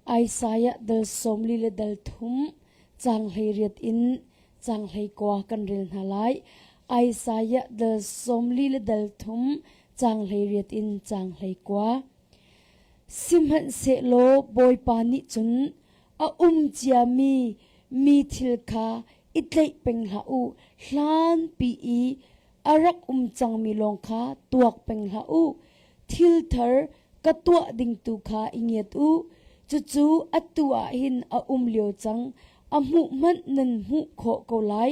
Isaiah dal sawmli le dal thum caang hleiriat in caang hleikua kan rel hna lai. Isaiah dal sawmli le dal thum caang hleiriat in caang hleikua. Sihmanhsehlaw Bawipa nih cun a um ciami mi thil kha i tleih peng hlah u. Hlanpi i A rak um cangmi lawng kha tuak peng hlah u. Thilthar ka tuah ding tu kha i ngiat u. Cucu atu ah hin a um lio cang. A hmuh hmanh nan hmuh khawh ko lai.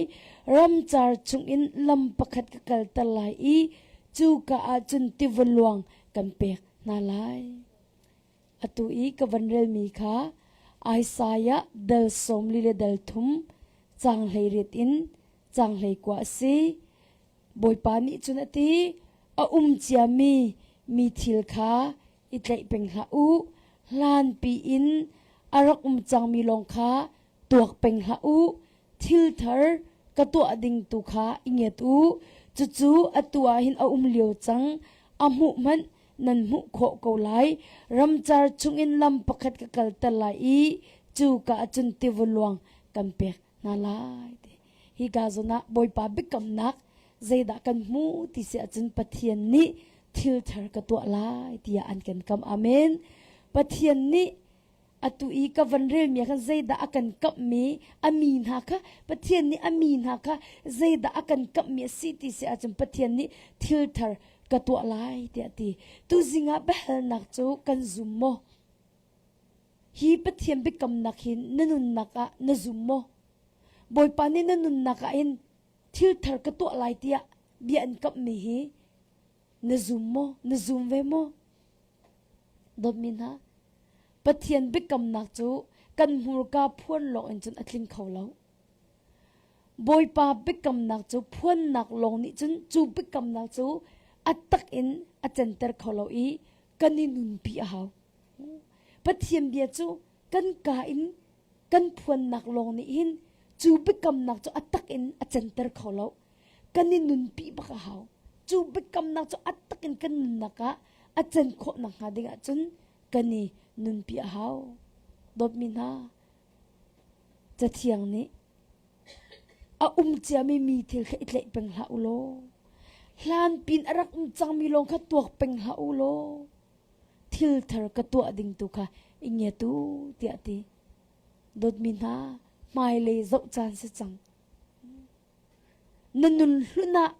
Ramcar chungin lam pakhat ka kalter lai i cuka ah cun tiva luang kan pek hna lai. Atu i ka van relmi kha Isaiah dal sawmli le dal thum caanghleirit in caanghlei kua a si. Bawipa nih cun a ti, a um ciami mi thil kha i tlaih peng hlah u. Hlanpi in a rak um cangmi lawng kha Tuak peng hlah u, thil thar ka tuah ding tu kha i nget u. Cucu atu ah hin a um lio cang, a hmuh hmanh nan hmuh khawh ko lai. Ramcar chungin lam pakhat ka kalter lai i cuka ah cun tiva luang kan pek hna lai. ti. Hi ka zon ah Bawipa biakamnak zeidah kan hmu ti si ahcun Pathian nih thil thar ka tuah lai tiah an kan kam. Amen. Pathian nih Atu i ka van relmi kha zeidah a kan kamhmi a mi hna kha Pathian nih a mi hna kha zeidah a kan kamhmi a si ti si ahcun Pathian nih thilthar ka tuah lai tiah a ti. Tuzing ah biahalnak cu kan zum maw? Hi Pathian biakamnak hi na nunnak ah na zum maw? Bawipa nih na nunnak ah hin thilthar ka tuah lai tiah bia an kamhmi hi Na zum maw? Na zum ve maw? Dawtmi hna, Pathian biakamnak cu kan hmurka phuan lawngin cun a tling kho lo. Bawipa biakamnak cu phuannak lawng nih cun cu biakamnak cu a tak in a center kho lo i kan i nunpi a hau. Pathian bia cu kan ka in kan phuannak lawng nih hin cu biakamnak cu a tak in a center kho lo. kan i nunpi bak a hau. Cu biakamnak cu at takin kan nunnak ah a can khawh nakhnga ding ahcun kan i nunpi a hau. Dawtmi hna, cathiang nih a um ciami mi thil kha i tleih peng hlah u law hlan pin a rak um cangmi lawng kha tuak peng hlah u law thil thar ka tuah ding tu kha i ngiat u tiah ti dawtmi hna hmailei zoh caan si cang Na nunhlun ah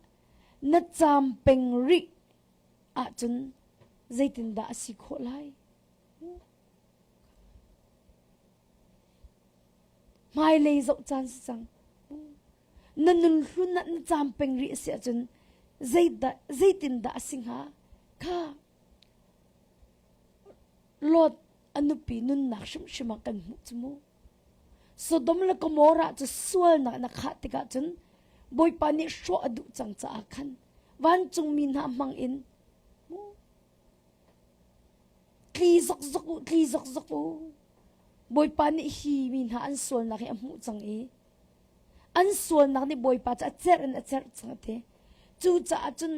na caam peng rih ahcun zeitindah a si khawh lai? Hmailei zoh caan si cang. Na nunhlun ah na caam peng rih a si ahcun zeidah, zeitindah a si hnga? Kha Lord a nupi nunnak hrimhrim ah kan hmuh cu mu. Sodom le Gomorrah cu sualnak na khah tikah cun Bawipa nih hrawh a duh cang caah khan vancungmi hna hmangin tli zokzok u, tli zokzok u. Bawipa nih hi mi hna an sualnak hi a hmuh cang i an sualnak nih Bawipa cu a cerh in a cerh cang a ti. Cucaah cun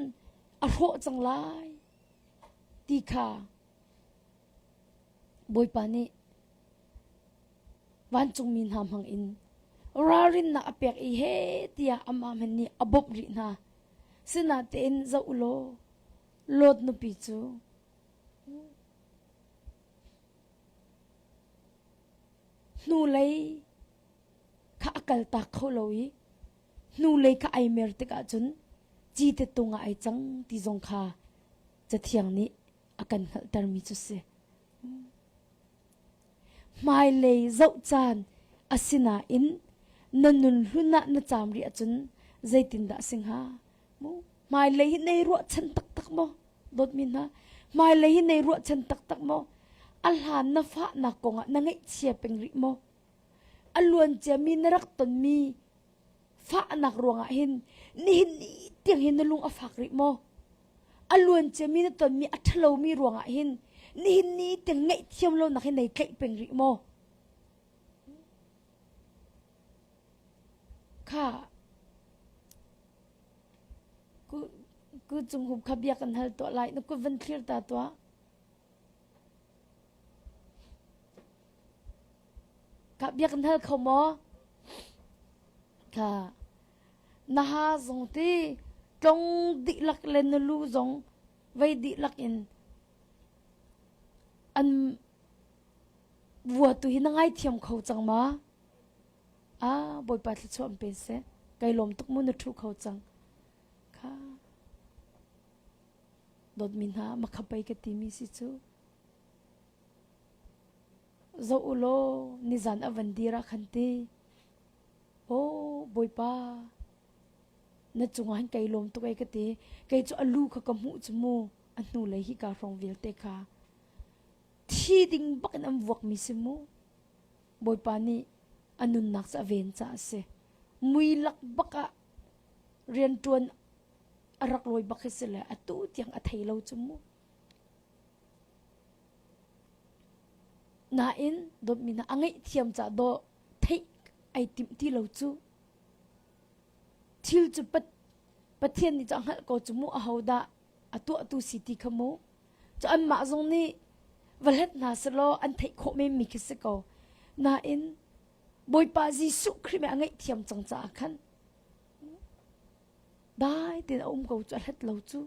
a hrawh cang lai ti kha Bawipa nih vancungmi hna hmangin ralrinnak a pek i he tiah amah hmanh nih a bawmh rih hna. Sinatein zoh u law Lot nupi cu hnulei kha a kaltak kho lo i hnulei kha ai mer tikah cun cite tung ah ai cang ti zong kha Cathiang nih a kan hngalhtermi cu si. Hmailei zoh caan a sinain na nunhlun ah na caam rih ahcun zeitindah a si hnga? Hmailei hi nei ruahchan taktak maw? Dawtmi hna, hmailei hi nei ruahchan taktak maw? A hlan na fahnak kongah na ngaihchia peng rih maw? A luanciami na rak tonmi Fahnak ruangah hin nihin ni tiang hin na lung a fak rih maw? A luanciami na tonmi a ṭhalomi ruangah hin nihin ni tiang ngaihthiam lonak hi nei tlaih peng rih maw? Kha ku, ku cung hum kha bia kan hal tuah lai na kut van thlir ta tuah. Ka biak na hal kho maw? Ka na ha zong ti tlong dihlak le na lu zong vei dihlak in an vua tu hi na ngaithiam kho cang ma? A Bawipa thluachuah an pe seh. Kai lawm tuk mu na ṭhu kho cang. Kha dawtmi hna makha pei ka timi si cu. Zoh u law nizan a van dir ah khan ti, Aw Bawipa, na cungah hin kei lawm tuk ai ka ti. Kei cu a lu kha ka hmuh cu mu, a hnulei hi kaa hrawng vialte kha thi ding bak in an vuakmi si mu. Bawipa nih a nunnak cu a ven caah a si. Mui lak bak ah rianṭuan a rak lawi bak hi si le atu tiang a thei lo cu mu. Nain dawtmi hna a ngaihthiam caah dawh theih ai timh ti lo cu. Thil cu Pathian nih cu a hngalh ko cu mu ahodah a tuahtu si ti kha mu. Cu anmah zong nih va hlet hna selaw an theih khawh menmi khi si ko. Nain Bawipa Jesuh Khrih me a ngaihthiam cang caah khan Dai tein a um ko cu a hlat lo cuh.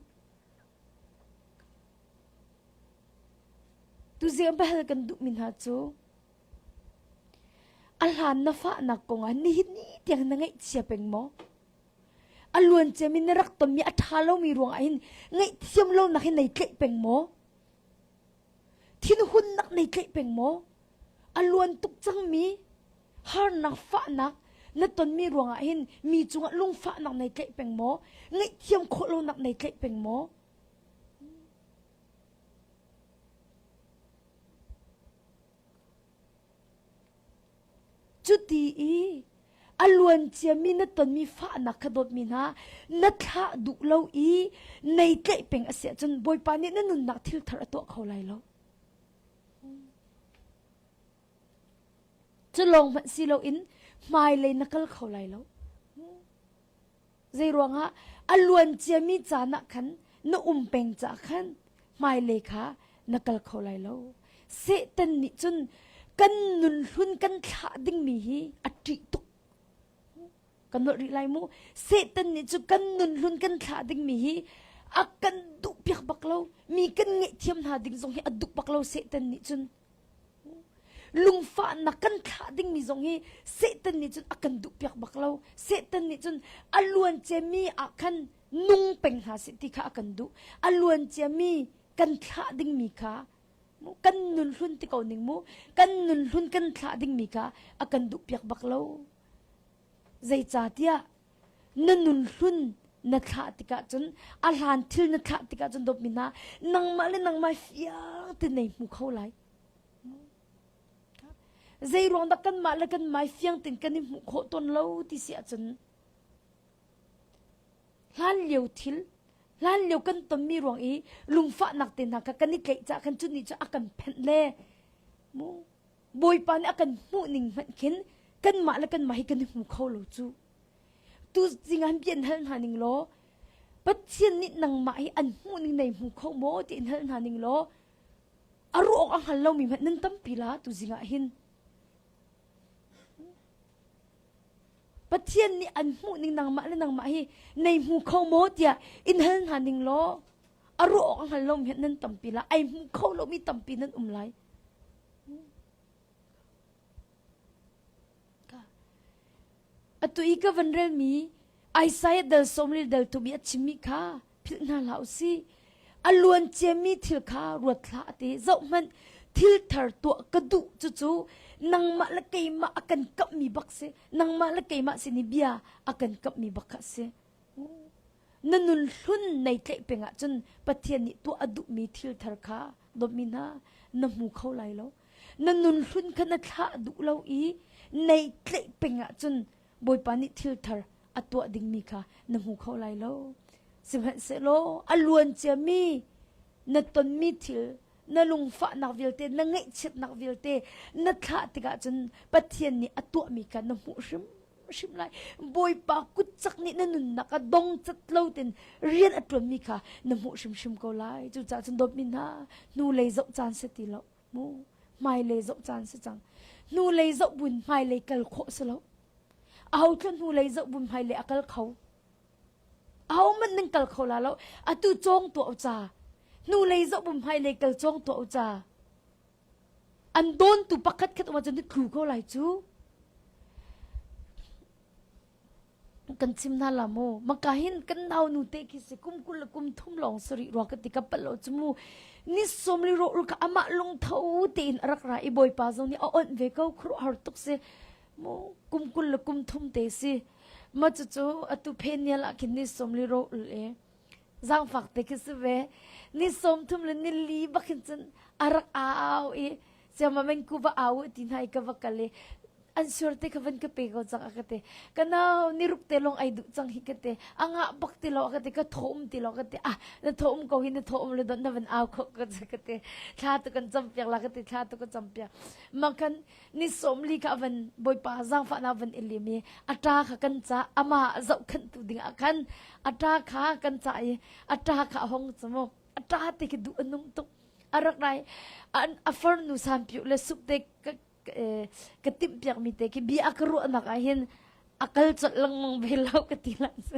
Tuzeng biahal kan duhmi hna cu a hlan na fahnak kongah nihin ni tiang na ngaihchia peng maw? A luanciam in na rak tonmi a ṭha lomi ruangah hin ngaihthiam lonak hi nei tlaih peng maw? Thinhunnak nei tlaih peng maw? A luan tuk cangmi Harnak fahnak na tonmi ruangah hin mi cungah lungfahnak nei tlaih peng maw? Ngaihthiam khawh lonak nei tlaih peng maw? Cuti i a luanciami na tonmi fahnak kha dawtmi hna, na thlah duh lo i nei tlaih peng a si ahcun Bawipa nih na nunnak thilthar a tuah kho lai lo. Cu lawng hmanh si loin hmailei na kal kho lai lo. Zeiruangah a luan ciami caan ah khan na um peng caah khan hmailei kha na kal kho lai lo. Satan nih cun kan nunhlun kan thlah dingmi hi a ṭih tuk. kan holh rih lai mu satan nih cu kan nun hlun kan thlah dingmi hi a kan duh piak bak lo mi kan ngeih thiam hna ding zong hi a duh bak lo satan nih cun lungfahnak kan thlah dingmi zong hi satan nih cun a kan duh piak bak lo satan nih cun a luancia mi ah khan nung peng hna si ti kha a kan duh a luancia mi kan thlah dingmi kha kan nun hlun ti ko ning mu kan nun hlun kan thlah dingmi kha a kan duh piak bak lo Zeicahtiah na nunhlun na thlah tikah cun a hlan thil na thlah tikah cun dawtmi hna nangmah le nangmah fiang te nei hmu kho lai. Zeiruang dah kanmah le kanmah fiang tein kan i hmuh khawh tawn lo ti si ahcun hlan lio thil hlan lio kan tonmi ruang i lungfahnak te hna kha kan i tleih cah khan cu ni cu a kan phenh le mu Bawipa nih a kan hmuh ning hmanh khin kanmah le kanmah hi kan i hmu kho lo cu. Tu zingan bia in hal hna ning law Pathian nih nangmah hi an hmuh ning nei hmu kho maw ti in hal hna ning law a ruh awk a hngal lomi hmanh nan tampi la tu zingah hin. Pathian nih an hmuh ning nangmah le nangmah hi nei hmu kho maw tiah in hal hna ning law a ruh awk a hngal lomi hmanh nan tampi la ai hmu kho lomi tampi nan um lai. Atu i ka van relmi Isaiah dal sawmri dal tum i a chimmi kha philh hna hlah u si. A luanciami thil kha ruat hlah a ti. Zohhmanh, thil thar tuah ka duh cucu nangmah le keimah a kan kamhmi bak si. Nangmah le keimah sin i bia a kan kamhmi bak kha a si. Na nunhlun nei tlaih peng ahcun Pathian nih tuah a duhmi thil thar kha dawtmi hna na hmu kho lai lo. Na nunhlun kha na thlah duh lo i nei tlaih peng ahcun Bawipa nih thil thar a tuah dingmi kha na hmu kho lai lo. Sihmanhsehlaw a luan ciami na tonmi thil na lungfahnak vialte na ngaihchiatnak vialte na thlah tikah cun Pathian nih a tuahmi kha na hmuh hrim hrim lai bawipa kutchak nih na nunnak a dong cat lo ten rian a tuanmi kha na hmuh hrimhrim ko lai cucaah cun dawtmi hna hnu lei zoh caan si ti lo mu hmai lei zoh caan si cang hnu lei zoh buin hmai lei kal khawh si lo aho thla hnu lei zoh buin hmai lei a kal kho ahohmanh nan kal kho la lo atu cawng tuah u ca hnulei zohpum hmai lei kal cawng tuah u ca an dawntu pakhat khat um ahcun na tlu ko lai cu kan chim hna la maw maka hin kan nau nu te khi si kum kul le kum thum lawng sarih rua ka ti ka pal lo chu mu ni som li ro ru ka amah lung tho tein a rak ra i bawipa zong nih a onh ve ko khruh har tuk si kum kul le kum thum te si ma cu cu atu phenial ah khin ni som li ro ul e zangfak te khi si ve ni som thum le ni li bakhin cun arak au i siama mengku va au ti nai ka va kal i an sur te kha van ka pe ko chang ka te kanau ni ruk te long ai du chang hi ka te anga bak ti lo ka te ka thom ti lo ka te ah na thom ko hi na thom le don na van au kho ka ka te thla tu kan cham piak la ka te thla tu ka cham piak ma kan ni somli kha van bawipa zaangfahnak van in lim i a ṭa kha kan ca ama zohkhanhtu dingah khan a ṭa kha kan ca i a ṭa kha a hong cumuk a ṭa te khi duh a nung tuk a rak rai a farnu sanpiu le sup te ka timhpiakmi te khi bia a ka ruahnak ah hin a kal colh lengmang ve lo ka ti lah cu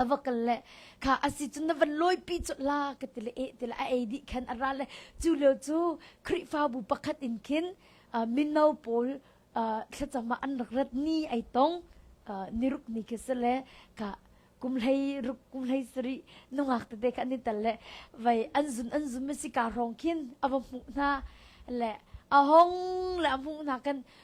a va kal le kha asi cu na van loipi cu la ka tile e tile a ei dih khan a ra le cu leo cu Khrihfabu pakhat in khin mino pawl thlacama an rak rat ni ai tong ni ruk ni ke se le ka kum hlei ruk kum hlei sari nungak te ka ni tal le vai an zun an zun ma si ka rong khin ava mu na le ahong le amu na kan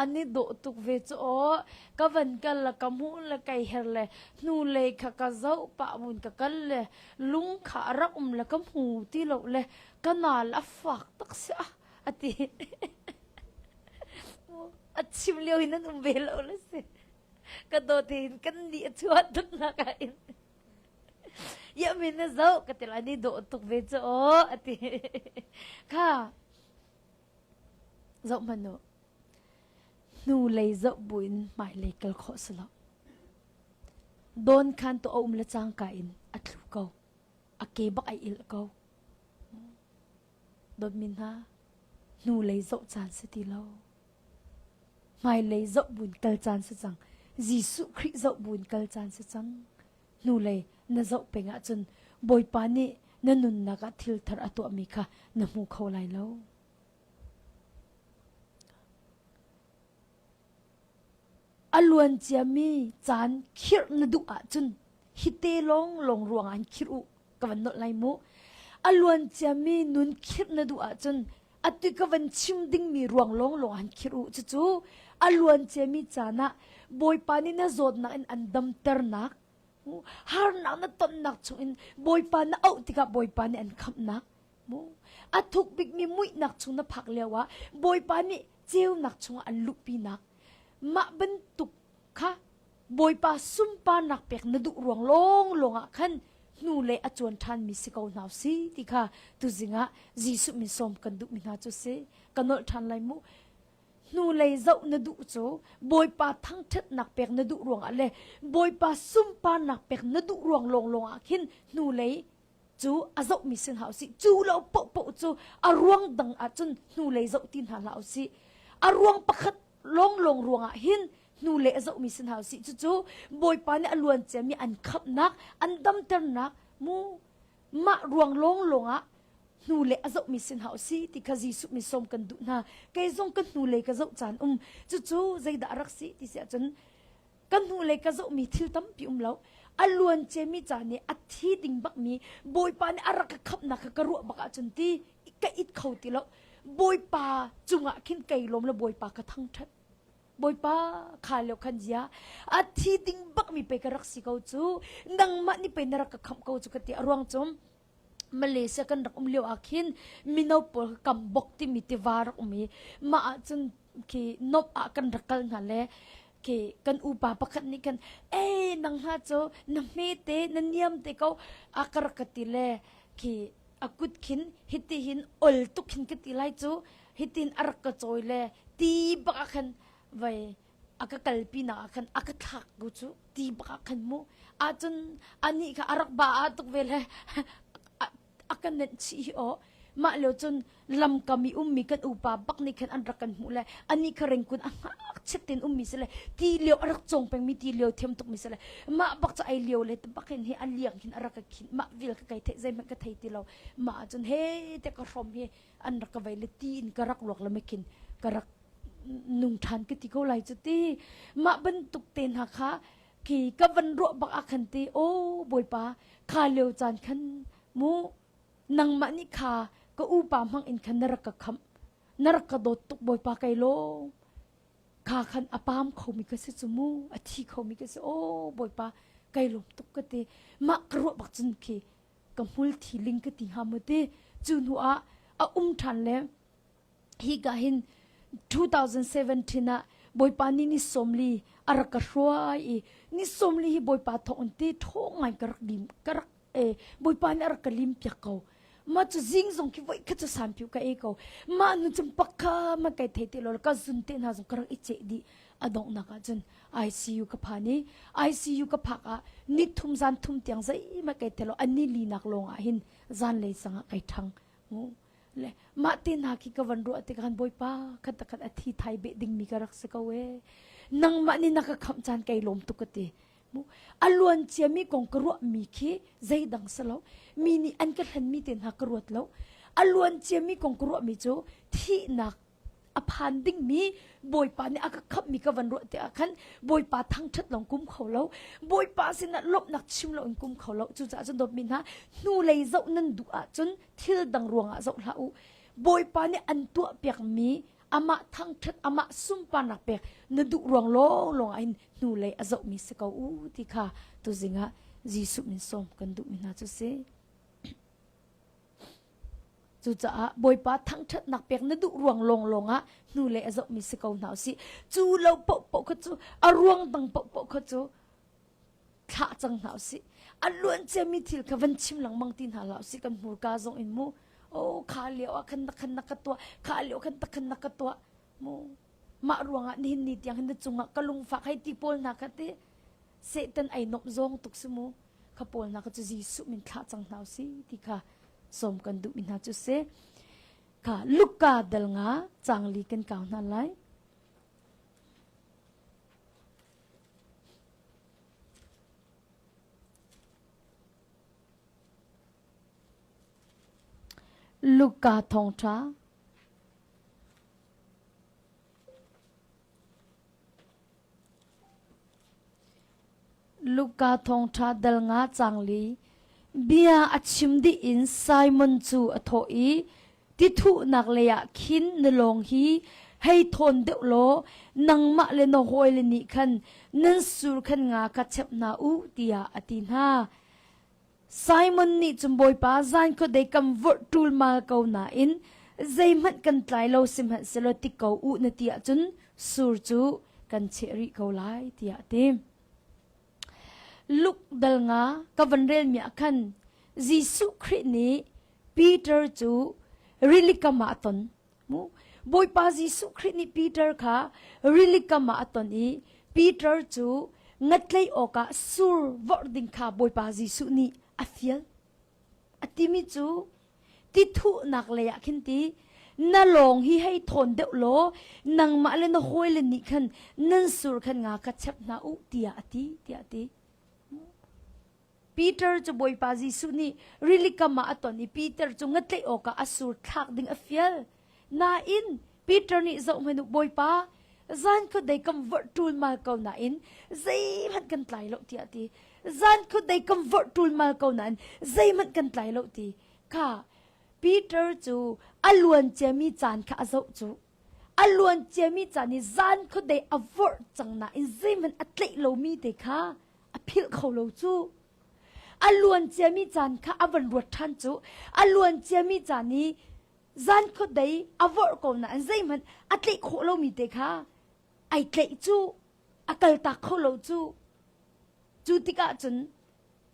ani do tuk ve chu o ka van kal la ka mu la kai her le hnu le kha ka zau pa mun ka kal le lung kha rak um la ka mu ti lo le ka na la fak tak sia ati a chim leo in an um ve lo la si ka do te in kan ni a chuat tuk na ka in Yahweh na zoh ka til an i dawh tuk ve cu aw a ti kha zoh hman u hnu lei zoh buin mai lei kal khawh si lo don khan to aum le cangka in a thlu ko a ke bak ai il ko Dawtmi hna, hnulei zoh caan si ti lo. Hmailei zoh buin kal caan si cang. Jesuh Khrih zoh buin kal caan si cang. Hnulei na zoh peng ahcun Bawipa nih na nunnak ah thilthar a tuahmi kha na hmu kho lai lo. A luan ciami caan khirh na duh ahcun hite lawnglawng ruangah khirh u ka van nolh lai mu. A luan ciami nun khirh na duh ahcun atu ka van chim dingmi ruang lawnglawng han khirh u. Cucu a luan ciami caan ah Bawipa nih na zawtnak in an damternak, harnak na tonnak chungin Bawipa na auh tikah Bawipa nih an khamhnak, A thuk bikmi muihnak chung na phak lioah Bawipa nih ceunak chungah an luhpinak mah bantuk kha Bawipa sunparnak pek na duh ruang lawnglawng ah khan hnu le a cuan ṭhanmi si ko hna si ti kha tuzing ah Jesuh min sawm kan duhmi hna cu si ka nolh ṭhan lai mu hnu lei zoh na duh cu Bawipa thangṭhatnak pek na duh ruangah le Bawipa sunparnak pek na duh ruang lawnglawng ah khin hnu lei cu a zohmi si hna usih cu lo pohpoh cu a ruang dang ahcun hnulei zoh ti hna hlah usih a ruang pakhat lawnglawng ruangah hin hnule a zohmi si hna usih cucu bawipa nih a luan ciami an khamhnak an damternak mu mah ruang lawnglawng ah hnule a zohmi si hna usi ti kha Jesuh mi som kan duh hna kei zong ka hnulei ka zoh caan um cucu zeidah a rak si ti si ahcun ka hnulei ka zohmi thil tampi um lo a luancemi ca nih a thi ding bakmi bawipa nih a rak ka khamhnak kha ka ruah bak ahcun ti ka it kho ti lo bawipa cungah khin kei lawm le bawipa ka thangṭhat bawipa kha leo khan zia a thi ding bakmi pei ka rak si ko cu nangmah nih pei na rak ka khamh ko cu ka ti a ruang cum Malaysia kan rak um lio ah khin mino pawl ka kam bok timi tiva rak um i mah ah cun khi nuamh ah kan rak kal hna le khi kan upa pakhat nih khan ei nang hna cu na hmete na niam te ko a ka rak ka ti le khi a kut khin hiti hin ol tuk hin ka ti lai cu hitin a rak ka cawi le ti bak ah khan vei a ka kal pinah ah khan a ka thlak ku cu ti bak ah khan mu ahcun anih kha a rak ba ah tuk ve le a ka nenh chih hi aw mah lio cun lamkam i ummi kan upa bak nih khan an rak kan hmuh le anih kha ringkun a ngakchiat tein ummi si le ti lio a rak cong pengmi ti lio thiam tuk mi si le mah bak cu ai lio le te bakin hi a liang hin a rak ka khin mah vel ka kai thei zeihmanh ka thei ti lo mah ahcun he te ka hrom hi an rak ka vaile ti in ka rak ruak le mekin ka rak nung than ka ti ko lai cu ti mah bantuk te hna kha ki ka van ruah bak a khan ti o boipa kha leo chan khan mu nangmah ni kha ka upa mang in khan na rak ka kham na rak ka dot tuk boipa kai lo kha khan apam khomi ka se chumu athi khomi ka se o boipa kai lom tuk ka ti ma ka ruah bak cun khi ka hmul thiling ka ti hnga mu ti cu hnu ah a um ṭhan le hi ka hin 2017 ah bawipa ni ni somli a rak ka hruai i ni somli hi bawipa thawng in ti ṭhaw ngai ka rak lim ka rak eh bawipa nih a rak ka lim piak ko ma cu zing zong khi voi kha cu san phiu ka ei ko ma nu chumpak kha ma kai thei te lo ka zun te hna zong ka rak i che dih a donghnak ah cun ICU ka phan i ICU ka phak ah nit thum zan thum tiang zeimah kai telo ani linak lawng ah hin zanlei sangah kai ṭhang ngu le mah te hna khi ka van ruah te khan bawipa khat khat a thi thai be ding mi ka rak si ko e nangmah nih na ka khamh caan kai lawm tuk ka ti mu a luan cia mi kong ka ruah mi khi zeidang sa lo mi nih an ka thlen mi te hna ka ruat lo a luan cia mi kong ka ruah mi cu thihnak a phan dingmi Bawipa nih a ka khamhmi ka van ruah tiah khan Bawipa thangṭhat lawng kum kho lo Bawipa sinah lawmhnak chim lo in kum kho lo cucaah cun dawtmi hna hnulei zoh nan duh ahcun thil dang ruangah zoh hlah u Bawipa nih an tuah piakmi amah thangṭhat amah sunparnak pek na duh ruang lawng ah in hnulei a zohmi si ko u ti kha tuzing ah Jesuh min sawm kan duhmi hna cu si. Cucaah Bawipa thangṭhatnak pek na duh ruang lawnglawng ah hnule a zohmi si ko hna usih. Cu lo paohpaoh kha cu a ruang dang paohpaoh kha cu thlah cang hna usih. A luanciami thil kha van chim lengmang ti hna hlah usih. Kan hmurka zong in mu. Oh, kha lio ah khan na khan na ka tuah. Kha lio khan na khan na ka tuah. Mah ruangah nihin ni tiang hin na cungah ka lungfak hei ti pawl hna kha ti Satan ai nomh zong tuk si mu kha pawl hna kha cu Jesuh min thlah cang hna si ti kha som kan duh mi hna cu se kha Luka dal nga changli kan kau hna lai Luka thong tha Luka thawngṭha dal nga cangli bia a chim dih in Simon cu a thawh i tithuhnak leiah khin na lawng hi hei thawn deuh law nangmah le na hawile nih khan nan sur khan nga kha chep hna u tiah a ti hna. Simon nih cun Bawipa zan khuadei kam vorh ṭulmal ko nain zeihmanh kan tlai lo sihmanhsehlaw ti ko u na ti ahcun sur cu kan cheh rih ko lai tiah a ti. Luk dal nga ka van relmi ah khan Jesuh Khrih nih Peter cu rilikam ah a ton. Bawipa Jesuh Khrih nih Peter kha rili kam ah a ton i Peter cu ngatleih awkah sur vorh ding kha Bawipa Jesuh nih a fial. A timi cu ti thuhnak lei ah khin ti na lawng hi hei thawn deuh law nangmah le na hawile nih khan nan sur khan nga ka chep hna u tiah a ti tiah a ti. Peter cu Bawipa Jesuh nih rilikam ah a ton i Peter cu ngatlaih awkah a sur thlak ding a fial. Nain Peter nih zohhmanh u Bawipa, zan kut dei kan vorh ṭulmal ko nain zeihmanh kan tlai lo tiah a ti. Zan kut dei kan vorh ṭulmal ko nain zeihmanh kan tlai lo ti kha Peter cu a luanciami caan kha a zoh cuh. A luanciami ca nih zan khuadei a vorh cang nain zeihmanh a tleih lomi te kha a philh kho lo cu. A luanciami caan kha a van ruat ṭhan cu. A luanciami caan i zan khuadei a vorh ko nain zeihmanh a tleih khawh lomi te kha ai tleih cu. A kaltak kho lo cu. Cu tikah cun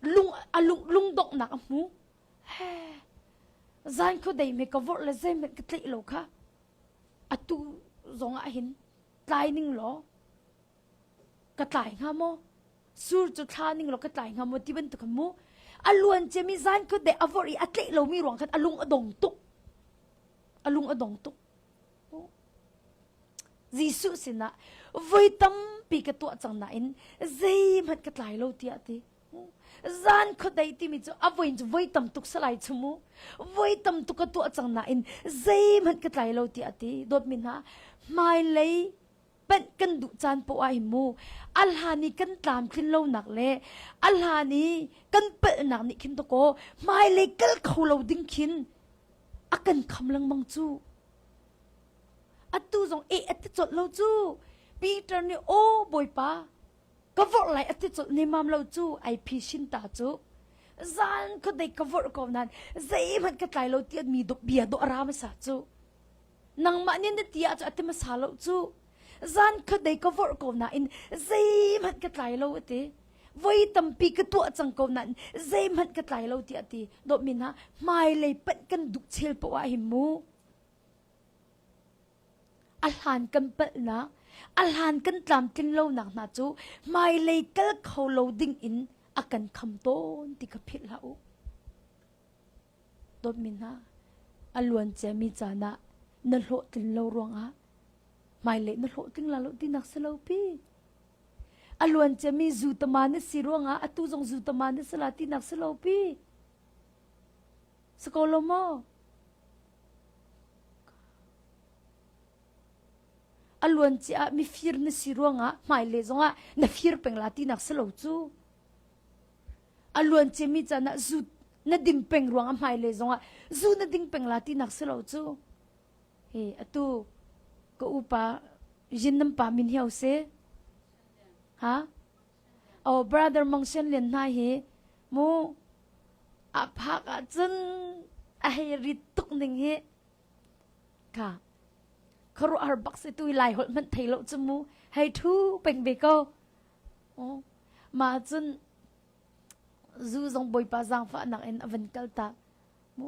lung, a lung, lungdonghnak a hmu. Zan khu dei me ka vorh le zeihmanh ka tleih lo kha atu zong ah hin tlai ning law ka tlai hnga maw? Sur cu thla ning law ka tlai hnga maw ti bantuk khan mu. A luan ciami zan khu dei a vorh i a tleih lomi ruang khan a lung a dong tuk. A lung a dong tuk. Jesuh sinah voi tampi ka tuah cang nain zeihmanh ka tlai lo tiah a ti. zan khuadei timi cu a voin cu voi tam tuk salai chu mu voi tam tuk a tuah cang nain zeihmanh ka tlai lo ti a ti dawt mi hna hmailei panh kan duh caan poah hi mu a hlan i kan tlam tlin lo nak le a hlan i kan palhnak nih khin to ko hmailei kal kho lo ding khin a kan kham lengmang cu atu zong e at te chawt lo cu Peter nih o bawipa ka vorh lai a ti colh nemam lo cu ai phi sin ta cu zan khuadei ka vorh ko nan zeihmanh ka tlai lo tian mi duk bia dawh ra masa cu nangmah nih na tia cu ati masa lo cu zan khuadei ka vorh ko na in zeihmanh ka tlai lo ati voi tampi ka tuah cang ko nan zeihmanh ka tlai lo ti ati dawmin ha hmai lei panh kan duh chel po ah hi mu A hlan kan palhnak, a hlan kan tlamtlin lonak hna cu hmailei kal kho lo ding in a kan kham tawn ti ka philh hlah u. Dawtmi hna, a luan ciami caan ah na hlawhtlin lo ruangah hmailei na hlawhtling la lo tinak si lo pi. A luan ciami zutama na si ruangah atu zong zutama na si la tinak si lo pi. Si ko lo maw? A luanci ah mifir na si ruangah hmaile zongah na fir peng la tinak si lo cu. A luanciami can ah zu na dim peng ruangah hmaile zongah zu na ding peng la tinak si lo cu. He atu ka upa zinam pa min hiau se. Ha? Aw brother mongsen len hna hi mu a phak ah cun a hei rit tuk ning hi ka kharu har bak se tu lai holh hmanh thei lo chu mu hei thu peng ve ko oh ma cun zu zong bawipa zaangfahnak in a van kal ta mu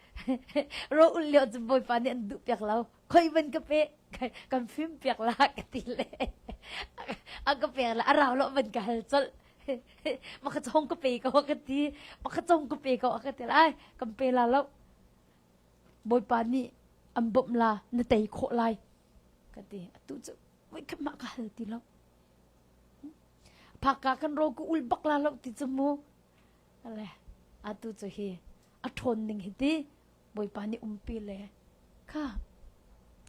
ro ul leo cu bawipa nih an duh piak lo khoi ban ka pe kan fim piak la ka ti le a ka pe la a rau lo ban ka hal chol ma ka chong ka pe ko ka ti ma ka chong ka pe ko ka ti lai kan pe la lo bawipa nih an bom la na tei khawh lai ka ti atu cu voi ka ma ka hal ti lo phaka kan ro ku ul bak la lo ti chu mu Le atu cu hi a ṭhawn ning hi ti Bawipa nih umpi le kha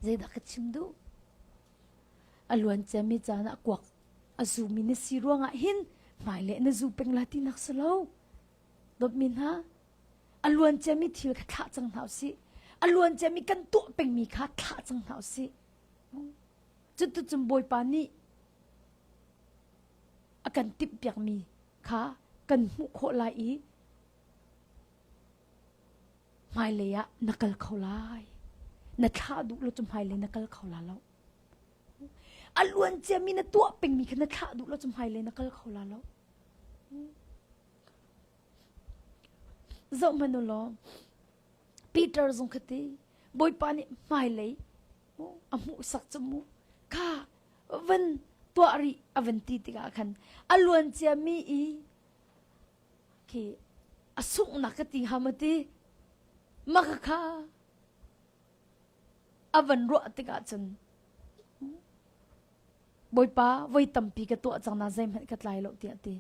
zeidah ka chim duh? A luanciami caan ah kuak a zumi na si ruangah hin hmaile na zu peng la ti nak si lo. Dawtmi hna, a luanciami thil kha thlah cang hna u sih. A luanciami kan tuah pengmi kha thlah cang hna u sih. Cutucun Bawipa nih a kan timhpiakmi kha kan hmuh khawh lai i hmailei ah na kal kho lai. Na thlah duh lo cu hmailei na kal kho la lo. A luan ciami na tuah pengmi kha na thlah duh lo cu hmailei na kal kho la lo. Zohhmanh u law, Peter zong khati, Bawipa nih hmailei mu, a hmuhsak cu mu, ka van tuah rih a van ti tikah khan a luancia mi i khi a sunghnak ka ti ham ti maka kha a van ruah tikah cun bawipa voi tampi ka tuah cang na zeihmanh ka tlai lo tiah ti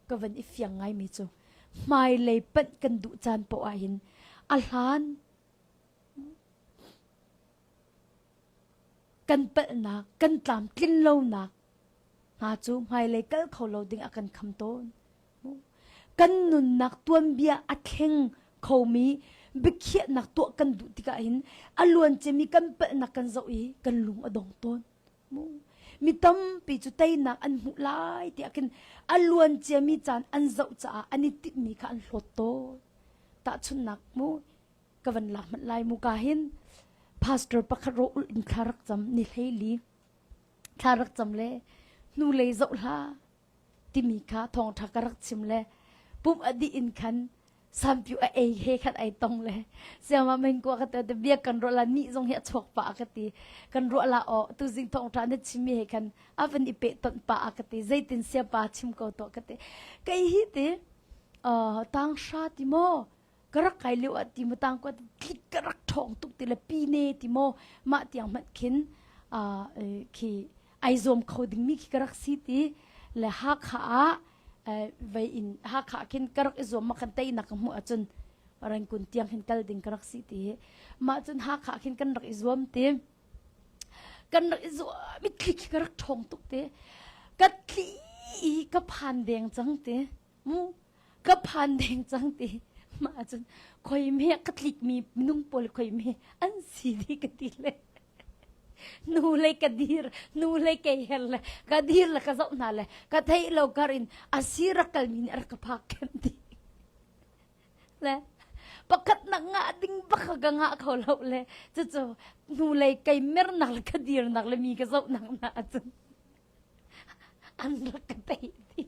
ka van i fiang ngai mi cu hmai lei panh kan duh caan poah hin a hlan kan palhnak, kan tlamtlin lonak hna cu hmailei kal kho lo ding a kan kham tawn. Kan nunnak tuanbia a thleng khomi biakhiahnak tuah kan duh tikah hin a luan cemi kan palhnak kan zoh i kan lung a dong tawn. Mi tampi cu teinak an hmuh lai tiah kin a luan ciami caan an zoh caah an i timhmi kha an hlawt tawn. Tahchunnak mu, ka van la hmanh lai muka hin pastor pakhat ro ul in thla rak cam ni hleili thla rak cam le hnu lei zoh hla timi kha thawngtha ka rak chim le pum adi in khan sampiu a ei he khan ai tong le siama meng kwa ka te te bia kan ro la ni zong hi a chok pa ka ti kan ro la o tu zing thong tha ne chimi he khan avan i pe ton pa ka ti zeitin sia pa chim ko to ka ti kai hi ti uh tang sha ti mo ka rak kai lio ah ti mu tang kuat thlit ka rak ṭhawng tuk ti le pi ne ti maw mah tiang hmanh khin uh, khi ai zuam kho ding mi khi ka rak si ti le hakha ah vei in hakha khin ka rak i zuam ma kan tei nak ka hmuh ahcun ran kun tiang khin kal ding ka rak si ti hi mah cun hakha khin kan rak i zuam ti kan rak i zuam i thli khi ka rak ṭhawng tuk ti ka thli ka phan deng cang ti mu ka phan deng cang ti ma cun khoi me ka tlik mi nung pol khoi me an si di ka ti le nu lei ka dir nu lei ke her le ka dir le ka zo hna le ka thei lo kar in asi rakal min ar ka phak kem ti le pakhat nak nga ding baka ga nga kho lo le chu chu nu lei kai mer nal ka dir nak le mi ka zo nang na cun an rak ka tei ti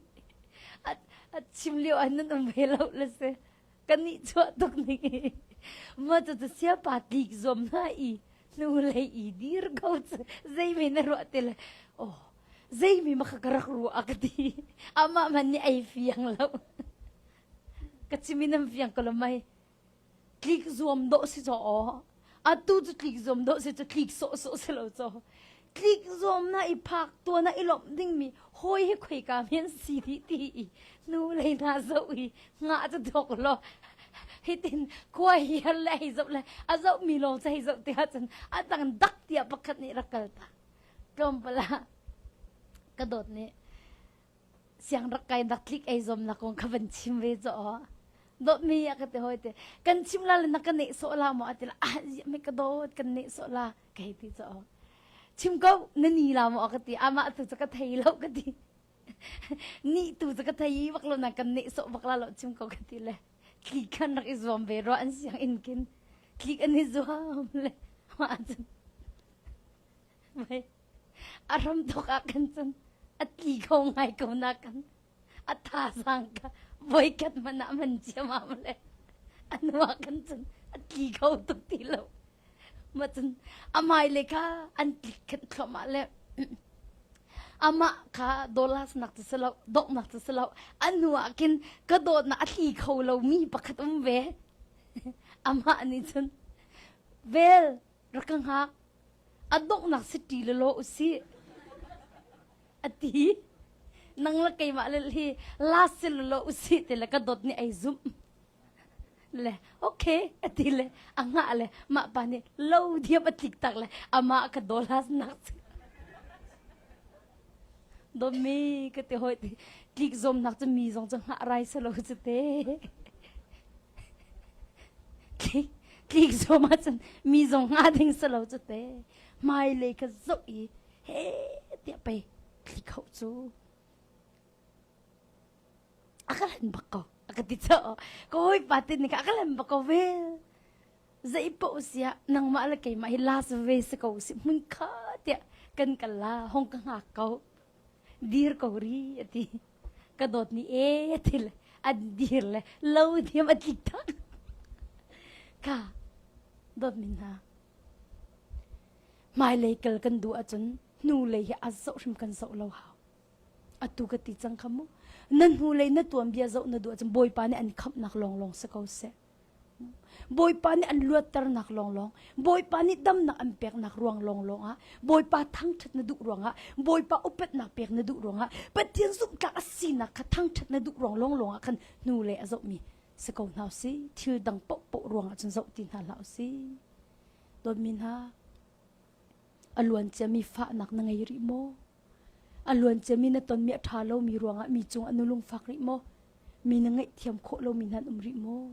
a chim lio ah nan um ve lo le si ka nih chuah tuk ni ma tu tu sia pa tlik zom na i nu lei i dir ko zei me na ruah te le oh zei mi maka ka rak ru ak ti ama man ni ai fiang lo ka chimi nam fiang ko lo mai Tlik zuam dawh si caw aw. Atu cu tlik zuam dawh si cu tlik sawh sawh si lo caw. Tlik zuam na i phak tua na i lomh dingmi hawi hi khoi ka men si ti ti i nu lei na zoh i nga cu thok lo hitin kua hial le hei zoh le a zoh mi lawng cu hei zoh ti ahcun a tang dak tiah pakhat nih rak kal ta tlawmpal ah ka dawt nih siangrak kai nak tlik ei zom na kong kha van chim ve cho do mi ya ka te hoi te kan chim la na ka ne so la mo atil a me ka do kan ne so la kai ti cho chim ko na ni la mo ka ti ama tu ka thei lo ka ti ni tu ka thei bak lo na kan ne so bak la lo chim ko ka ti le tli kan rak izom ve ro an siang in kin tli an izom le ma a ram thok ah kan cun a tli kho ngai ko na kan a tha sang ka voi kat man ah man chiam ah male anua kan cun a tli kho tuk ti lo ma cun amai le ka an tlik khat thlom ah le ama ka dollars nak ti selo dok nak ti selo anu akin ka dot na atli kho lo mi pakhat um ve ama ani chun vel rak ka hngak a donghnak city le law usih a ti nang la keimah le hi last se le law usih ti le ka dot ni ai zum le okay a ti le a nga le mah pa nih lo diam a tlik tak le amah ka dolas nak Dawmi ka te hoi tlik zomnak cu mi zong cu ngah rai salo cu te. Tlik tlik zom ahcun mi zong ngah ding salo cu te. Hmailei ka zoh i he tiah pei tlik hau cu. A ka len bak ko. A ka ti cho. Ka hawi pa tin nika a ka len bak ko vel. zeipaoh siah nangmah le keimah hi last ve si ko si hmun kha tiah kan kal la hong ka hngak ko dir ko ri a ti ka dawt ni e ti le an dir le lo thiam a tlik ta ka dawt min hna hmailei kal kan duh ahcun hnu lei hi a zoh hrim kan zoh lo hau atu ka ti cang kha mu na hnu lei na tuanbia zoh na duh ahcun bawipa nih an khamhnak lawnglawng si ko seh Bawipa nih an luatternak lawnglawng, Bawipa nih damnak an peknak ruang lawnglawng ah, Bawipa thangṭhat na duh ruangah, Bawipa upatnak pek na duh ruangah, Pathian zumhtlak a sinak kha thangṭhat na duh ruang lawnglawng ah khan hnu le a zohmi si ko hna u sih. Thil dang paohpaoh ruangah cun zoh ti hna hlah u sih. Dawtmi hna, a luanciami fahnak na ngei rih maw? A luanciam in a tonmi a ṭha lomi ruangah mi cung ah na lungfak rih maw? Mi na ngaihthiam khawh lomi nan um rih maw?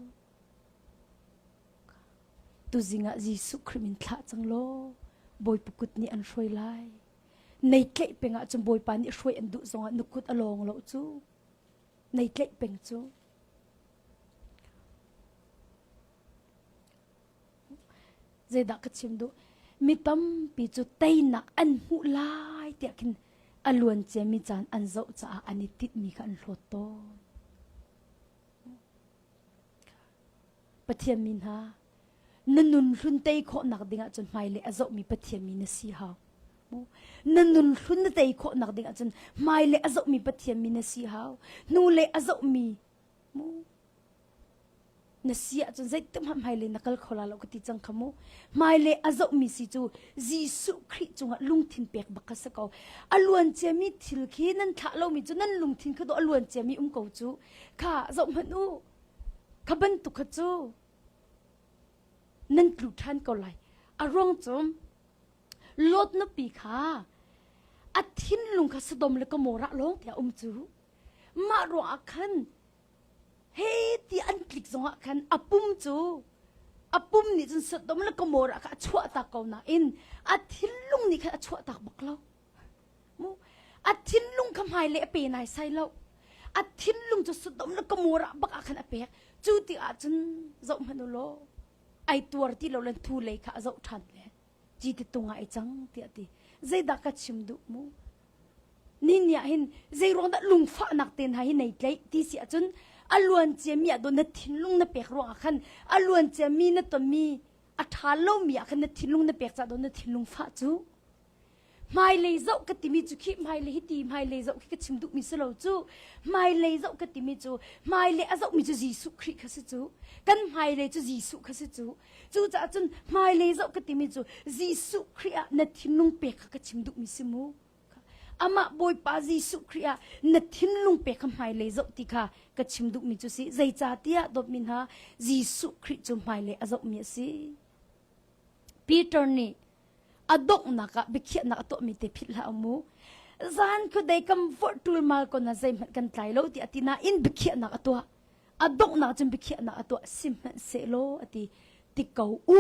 Tuzing ah Jesuh Khrih min thlah cang law Bawipa kut nih an hruai lai. Nei tleih peng ahcun Bawipa nih hruai an duh zongah na kut a lawng lo cu. Nei tleih peng cu. zeidah ka chim duh mi tampi cu teinak an hmuh lai tiah khin a luan ciami caan an zoh caah an i titmi kha an hlawt tawn pathian mi hna na nun hlun tei khawhnak dingah cun hmailei a zohmi pathian mi na si hau na nun hlun na tei khawhnak dingah cun hmailei a zohmi pathian mi na si hau hnulei a zohmi na si ahcun zeitinhmah hmailei na kal kho la lo ka ti cang kha mu hmailei a zohmi si cu Jesuh Khrih cungah lungthin pek bak kha si ko a luancia mi thil khi nan thlah lomi cu nan lungthin kha dawh a luancia mi um ko cu kha zoh hmanh u kha bantuk kha cu nan tlu ṭhan ko lai a ruang cu Lot nupi kha a thinlung kha Sodom le Gomorrah lawng tiah a um cu Mah ruangah khan he ti an tlik zongah khan a pum cu a pum nih cun Sodom le Gomorrah kha a chuahtak ko nain a thinlung nih khan a chuahtak bak lo. Mu a thinlung kha hmaile a pe nai sai lo. A thinlung cu Sodom le Gomorrah bak ah khan a pek. Cu ti ahcun zohhmanh u law ai tuar ti lo len thu lei kha a zoh ṭhan ve. ci te tung ah i cang tiah ti zeidah ka chim duh mu ni ni ah hin zeiruang dah lungfahnak te hna hi nei tlaih ti si ahcun a luan cia mi ah do na thinlung na pek ruang ah khan a luan cia mi na tonmi a ṭha lomi ah khan na thinlung na pek cah do na thinlung fah cu hmailei zoh ka timi cu khi hmailei hi ti hmailei zoh khi ka chim duhmi si lo cu hmailei zoh ka timi cu hmailei a zohmi cu Jesuh Khrih kha si cu kan hmailei cu Jesuh kha si cu cucaah cun hmailei zoh ka timi cu Jesuh Khrih ah na thinlung pek kha ka chim duhmi si mu amah Bawipa Jesuh Khrih ah na thinlung pe kha hmailei zoh ti kha ka chim duhmi cu si zeicahtiah dawtmi hna Jesuh Khrih cu hmailei a zohmi a si Peter nih a donghnak ah biakhiahnak a tuahmi te phit hlah mu zan ku dei kam vorh tul mal ko na zei hmanh kan tlai lo ti ati na in biakhiahnak a tuah a donghnak cun biakhiahnak a tuah si hmanh se lo ati ti ko u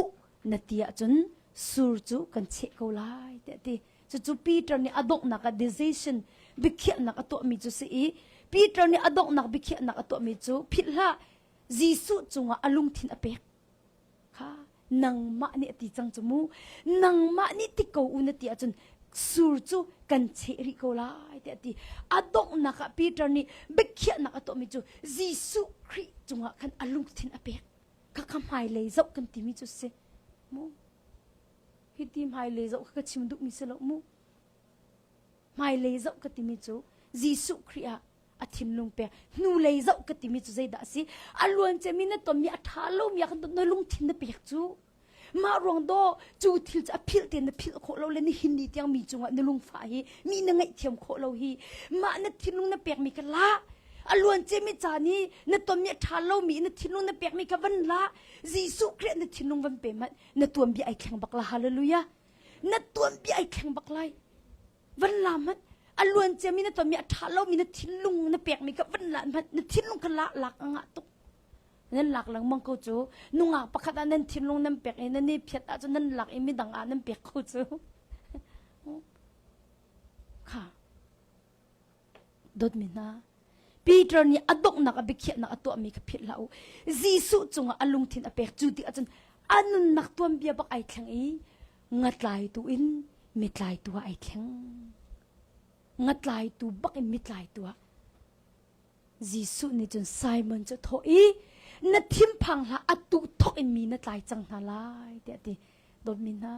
na ti ahcun sur cu kan cheh ko lai ti ati cucu Peter nih a donghnak a decision biakhiahnak a tuahmi cu si i Peter nih a donghnak biakhiahnak a tuahmi cu phit hlah Jesuh cungah a lungthin a pek kha nangmah nih a ti cang cu mu nangmah nih ti ko u na ti ahcun sur cu kan cheh rih ko lai tiah a ti a donghnak ah Peter nih biakhiahnak a tuahmi cu Jesuh Khrih cungah khan a lungthin a pek khakha hmailei zoh kan timi cu si mu hiti hmailei zoh kha ka chim duhmi si lo mu hmailei zoh ka timi cu Jesuh Khrih ah a thinlung pek hnulei zoh ka timi cu zeidah a si a luancem in na tonmi a ṭha lomi ah kan dawt na lungthin na pek cu mah ruang do cu thil cu a philh te na philh khawh lo le nihin ni tiang mi cungah na lungfa hi mi na ngaih thiam khawh lo hi mah na thinlung na pekmi ka la a luancem i caan i na tonmi a ṭha lomi na thinlung na pekmi ka van la Jesuh Krih na thinlung van pe mat na tuan bia ai thleng bak la hallelujah na tuan bia ai thleng bak lai van la hmanh a luan ciami na ton mi a ṭha lomi na thinlung na pekmi kha van la hmanh na thinlung kha lak lak a ngah tuk nan lak lengmang ko cu nungak pakhat ah nan thinlung nan pek i nan i phiat ahcun nan lak i midang ah nan pek ko cu kha dawtmi hna Peter nih a donghnak a biakhiahnak a tuahmi kha philh hlah u Jesuh cungah a lungthin a pek cu ti ahcun a nunnak tuanbia bak ai thleng i ngatlaitu in mitlaitu ah ai thleng ngatlaitu bak in mitlaitu ah Jesuh nih cun Simon cu thawh i na thinphang hlah a tu thawk in mi na tlai cang hna lai tiah ti dawtmi hna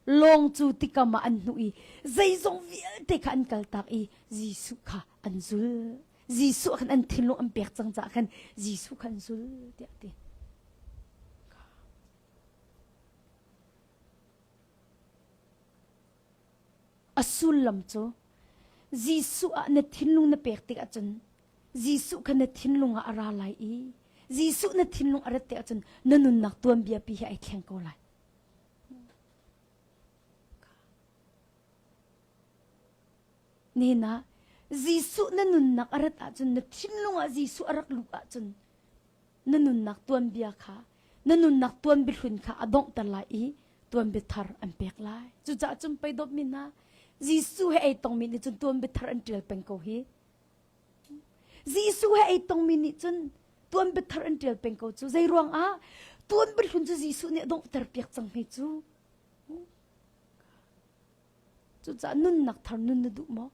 Lawng cu tikam ah an hnuh i zeizong vialte kha an kaltak i Jesuh kha an zul. Jesuh khan an thinlung an pek cang caah khan Jesuh kha an zul tiah ti. A sullam cu Jesuh ah na thinlung na pek tik ahcun Jesuh kha na thinlung ah a ra lai i Jesuh na thinlung a rat tik ahcun na nunnak tuanbia pi hi ai thleng ko lai. Nena, Jesuh na nunnak a rat ahcun, na thinlung ah Jesuh a rak lut ahcun, na nunnak tuanbia kha, na nunnak tuanbiahlun kha a donghter lai i tuanbiathar an pek lai. Cucaah cun pei dawtmi hna, Jesuh he ei tongmi nih cun tuanbiathar an ṭial peng ko hi. Jesuh he ei tongmi nih cun tuan biathar an ṭial peng ko cu. Zei ruangah? Tuan biahlun cu Jesuh nih a donghter piak cang hei cu. Cucaah nunnak thar nun na duh maw?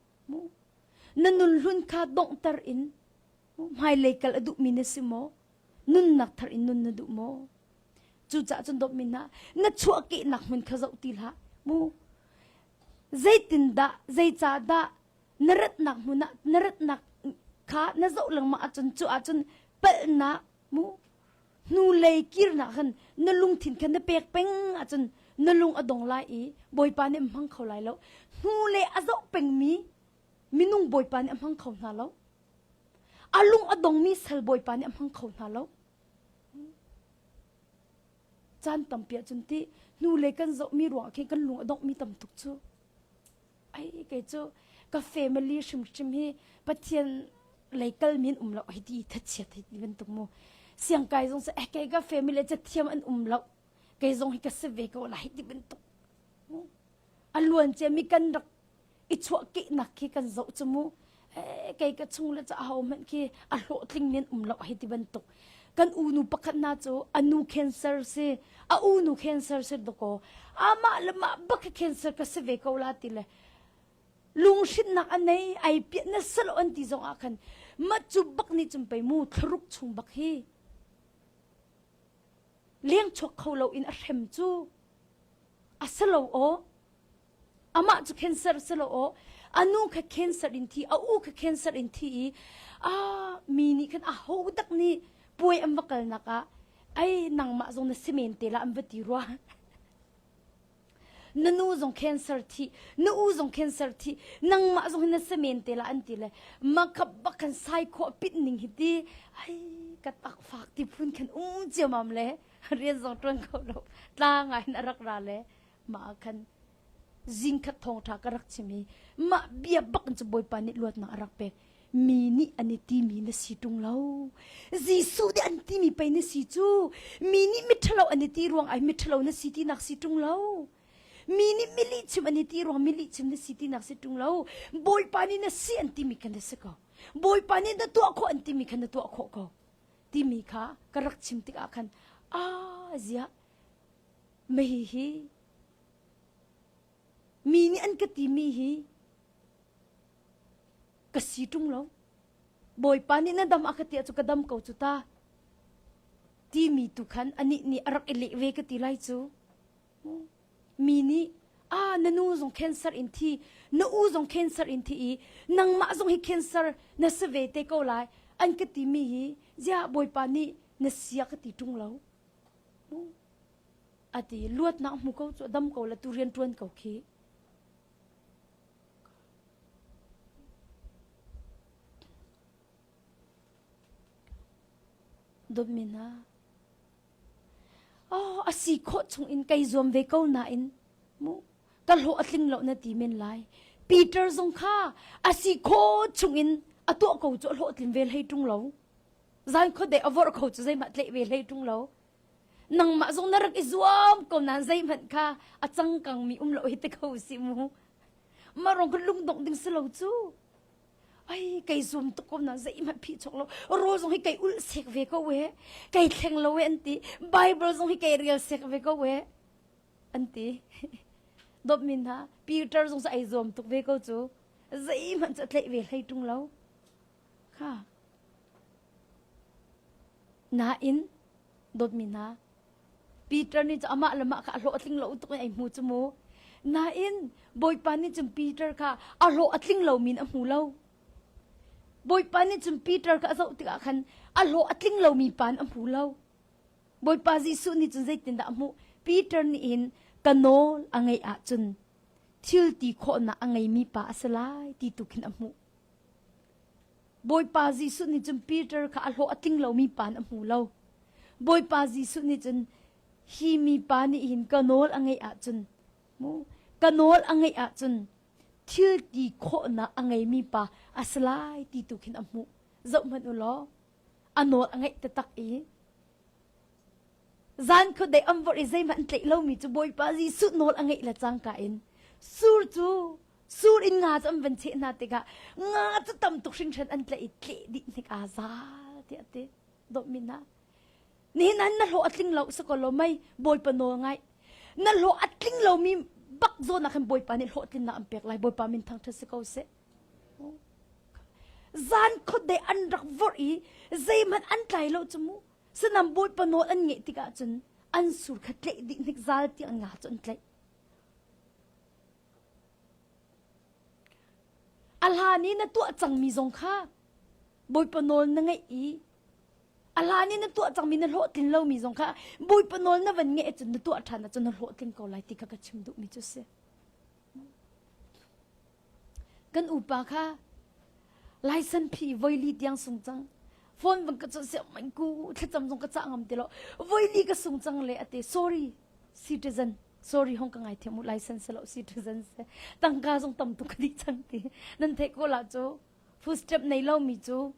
Na nunhlun kha donghter in hmailei kal a duhmi na si maw? Nunnak thar in nun na duh maw? Cucaah cun dawtmi hna, na chuahkehnak hmun kha zoh ti hlah. Mu. Zeitindah, zeicahdah na ratnak hmun ah na ratnak kha na zoh lengmang ahcun cu ahcun palhnak mu hnulei kirnak khan na lungthin khan na pek peng ahcun na lung a dong lai i bawipa nih a hmang kho lai lo hnulei a zoh pengmi minung bawipa nih a hmang kho hna lo a lung a dongmi sal bawipa nih a hmang kho hna lo caan tampi ahcun ti hnulei kan zohmi ruangah khin kan lung a dongmi tam tuk cu ai kei cu ka family hrimhrim hi pathian lei kal min um lo hi ti thatchiat hi ti bantuk mu siang kai zong sa eh kei ka family ca thiam an um lo kei zong hi ka se ve ko la hi ti bantuk a luan ce mi kan rak i chuah ki nak khi kan zo chu mu kei ka chung le ca ho hmanh khi a hlawhtling nin um lo hi ti bantuk kan unu pakhat na cu anu cancer si a unu cancer si to ko amah le mah bak cancer ka si ve ko la ti le lungshitnak anei ai piah na salo an ti zong ah khan ma cu bak ni chum pei mu thluruk chung bak hi leng chok kho lo in a hrem cu a salo o Amah cu cancer si lo aw. A nu kha cancer in thi, a u kha cancer in thi i a mi nih khan a ho tak nih puai an va kalnak ah ai nangmah zong na si men te la an va ti rua. na nu zong cancer thi na u zong cancer thi nangmah zong na se men te la an ti le makap bak kan sai kho pit ning hi ti ai ka tak fak ti phun khan um chiamam le rian zong tuan kho lo tla ngai na rak ra le mah ah khan zing khat thawngṭha ka rak chim i mah bia bak in cu Bawipa nih luatnak a rak pek mi nih an i timi na si ṭung lo Jesuh nih an timi pei na si cu mi nih miṭhalo an i ti ruang ai miṭhalo na si tinak si ṭung lo mi nih milihchim an i ti ruang milihchim na si tinak si ṭung lo Bawipa nih na si an timi kha na si ko Bawipa nih na tuah khawh an timi kha na tuah khawh ko timi kha ka rak chim tikah khan a ziah Maihi mi nih an ka timi hi ka si ṭung lo. Bawipa nih na dam a ka tia cu ka dam ko cu ta. Timi tu khan anih nih a rak i leh ve ka ti lai cu. Mi nih a na nu zong cancer in thi na u zong cancer in thi i nangmah zong hi cancer na si ve te ko lai an ka timi hi ziah bawipa nih na sia ka ti ṭung lo. A ti luatnak hmu ko cu a dam ko la tu rian ṭuan ko khi. Dawtmina, oh, a si khawh chungin kai zuam ve ko nain mu ka hlawh a tling lo na ti men lai. Peter zong kha a si khawh chungin a tuah ko cu a hlawh tling ve hlei ṭung lo. Zan kho de a vorh ko cu zeimah tleh ve hlei ṭung lo. nangmah zong na rak i zuam ko nan zeihmanh kha a cangkang mi um lo hi te kho si mu marong kan lung dong ding si lo cu ai kai zum tuk ko nan zeihmanh phi chok lo ro zong hi kai ul sek ve ko we kai thleng lo we anti bible zong hi kai real sek ve ko we anti dop min ha peter zong sa ai zuam tuk ve ko chu zeihmanh cha tlei ve hlei tung lo Nain dawtmi hna, Peter nih cu amah le mah kha a hlawhtling lo tuk in ei hmu cu mu. Nain Bawipa nih cun Peter kha a hlawh a tling lomi in a hmu lo. Bawipa nih cun Peter kha a zoh tikah khan a hlawh a tling lomi pa in a hmu lo. Bawipa Jesuh nih cun zeitindah a hmuh? Peter nih hin ka nawl a ngeih ahcun thil ti khawhnak a ngeimi pa a si lai ti tu khin a hmuh. Bawipa Jesuh nih cun Peter kha a hlawh a tling lomi pa nih a hmu lo. Bawipa Jesuh nih cun hi mipa nih hin ka nawl a ngeih ahcun mu ka nawl a ngeih ahcun thil ti khawhnak a ngeimi pa a si lai ti tu khin a hmuh. Zohhmanh u law a nawl a ngaih taktak i Zan kut dei am vorh i zeihmanh tleih lomi cu Bawipa Jesuh nawl a ngeih le cangka in sur cu sur in nga cu an van cheh hna tikah nga cu tam tuk hringhren an tleih i tleh dih hnik aa zal tiah a ti. Dawtmin ah. Nihin an na hlawh a tling lo sakaw law mei Bawipa nawl ngaih. Na hlawh a tling lomi bak zawn ah khin Bawipa nih hlawh tlinnak an pek lai. Bawipa min thangṭhat si ko seh. Zan khuadei an rak vorh i zeihmanh an tlai lo cu mu. Sanam Bawipa nawl an ngeih tikah cun an sur kha tleih dih hnik zal ti an nga cu an tleih. A hlan i na tuah cangmi zong kha Bawipa nawl na ngaih i a hlan i na tuah cangmi na hlawhtlin lomi zong kha Bawipa nawl na van ngeih ahcun na tuah ṭhan ahcun na hlawhtling ko lai ti kha ka chim duhmi cu a si. Kan upa kha laisanphi voili tiang sung cang. Phone bang ka cuanh siah main ku thlacam zong ka cah ngam ti lo. Voili ka sung cang le ate sorry citizen sorry hong ka ngai thiam u license lo citizen se tangka zong tam tu ka di chan ti nan thei ko la chu footstep nei lo mi chu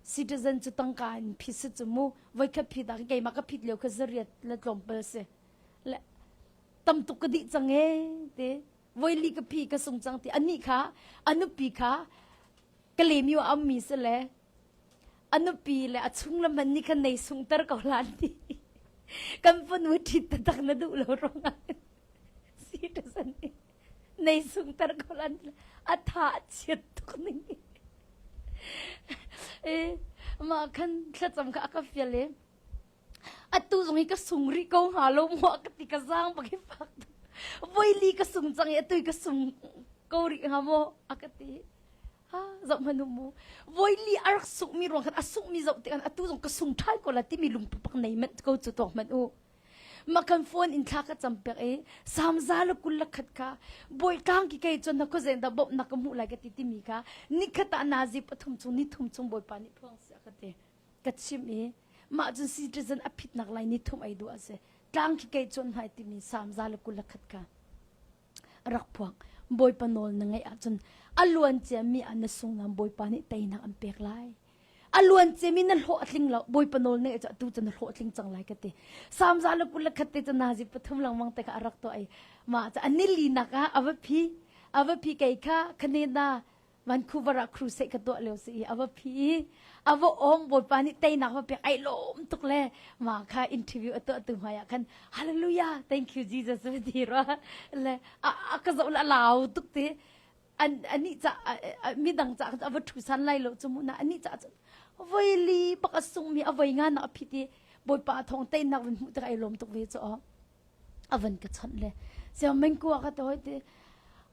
citizen chu tangka in phis chu mu voi khat phi ta ke ma ka phit leo kha zariat la tlom pal se le tam tuk ka di chang e te voi li ka phi ka sung cang ti anih kha a nupi kha ka lemi a ammi si le a nupi le a chung le man nih khan nei sungter ko hlan ti kan fanu ṭhit tak na duh lo ruangah si ṭa san nei sungter ko hlan a tha a chiat tuk ning eh ma khan thlacam kha a ka fial e Atu zong hi ka sung rih ko hnga lo maw ka ti ka zaang bak i fak. Voili ka sung cang i atu ka sung ko rih hnga maw a ka ti. Ha, zoh manu mu. Voili a rak sungh mi ruang khan a sungh mi zoh tikhan atu zong ka sung thai ko la timi lungpupak nei manh ko cu tuak manh u. makan phone in thla ka cham pek i samza la kul la khat ka boi kang ki kai chon na ko zen da bop na ka mu lai ka ti ti mi ka ni khata na zip athum chung ni thum chung boipa ni phuang sia ka ti ka chim i mah cun citizen a phitnak lai ni thum ei duh a si tlang khi kei cun hnai timi samza le kul khat ka rak phuang bawipa nawl na ngaih ahcun a luan ciami ah na sunglam bawipa nih teinak an pek lai a luan ciami na hlawh a tling lo bawipa nawl na ngaih tu cu na hlawh a tling cang lai ka ti samza le kul khat te cu nazi pathum langmang te ka arak to ai ma ca anili nak ah avapi avapi kei kha khaneda Vancouver ah crusade ka tuah lio si i a va phi i a va ong Bawipa nih teinak va pek ai lawm tuk le ma kha interview a tuah tu hmai ah khan hallelujah thank you Jesus va ti rwa le a, a ka zo la lau tuk ti an ani cha mi dang cha a va thu san lai lo chu mu na ani cha voi li pak a sung mi a voi nga na a phiti Bawipa thong teinak vun hmu tak ai lawm tuk ve chu a van ka chawnh le sia mengku a ka to ti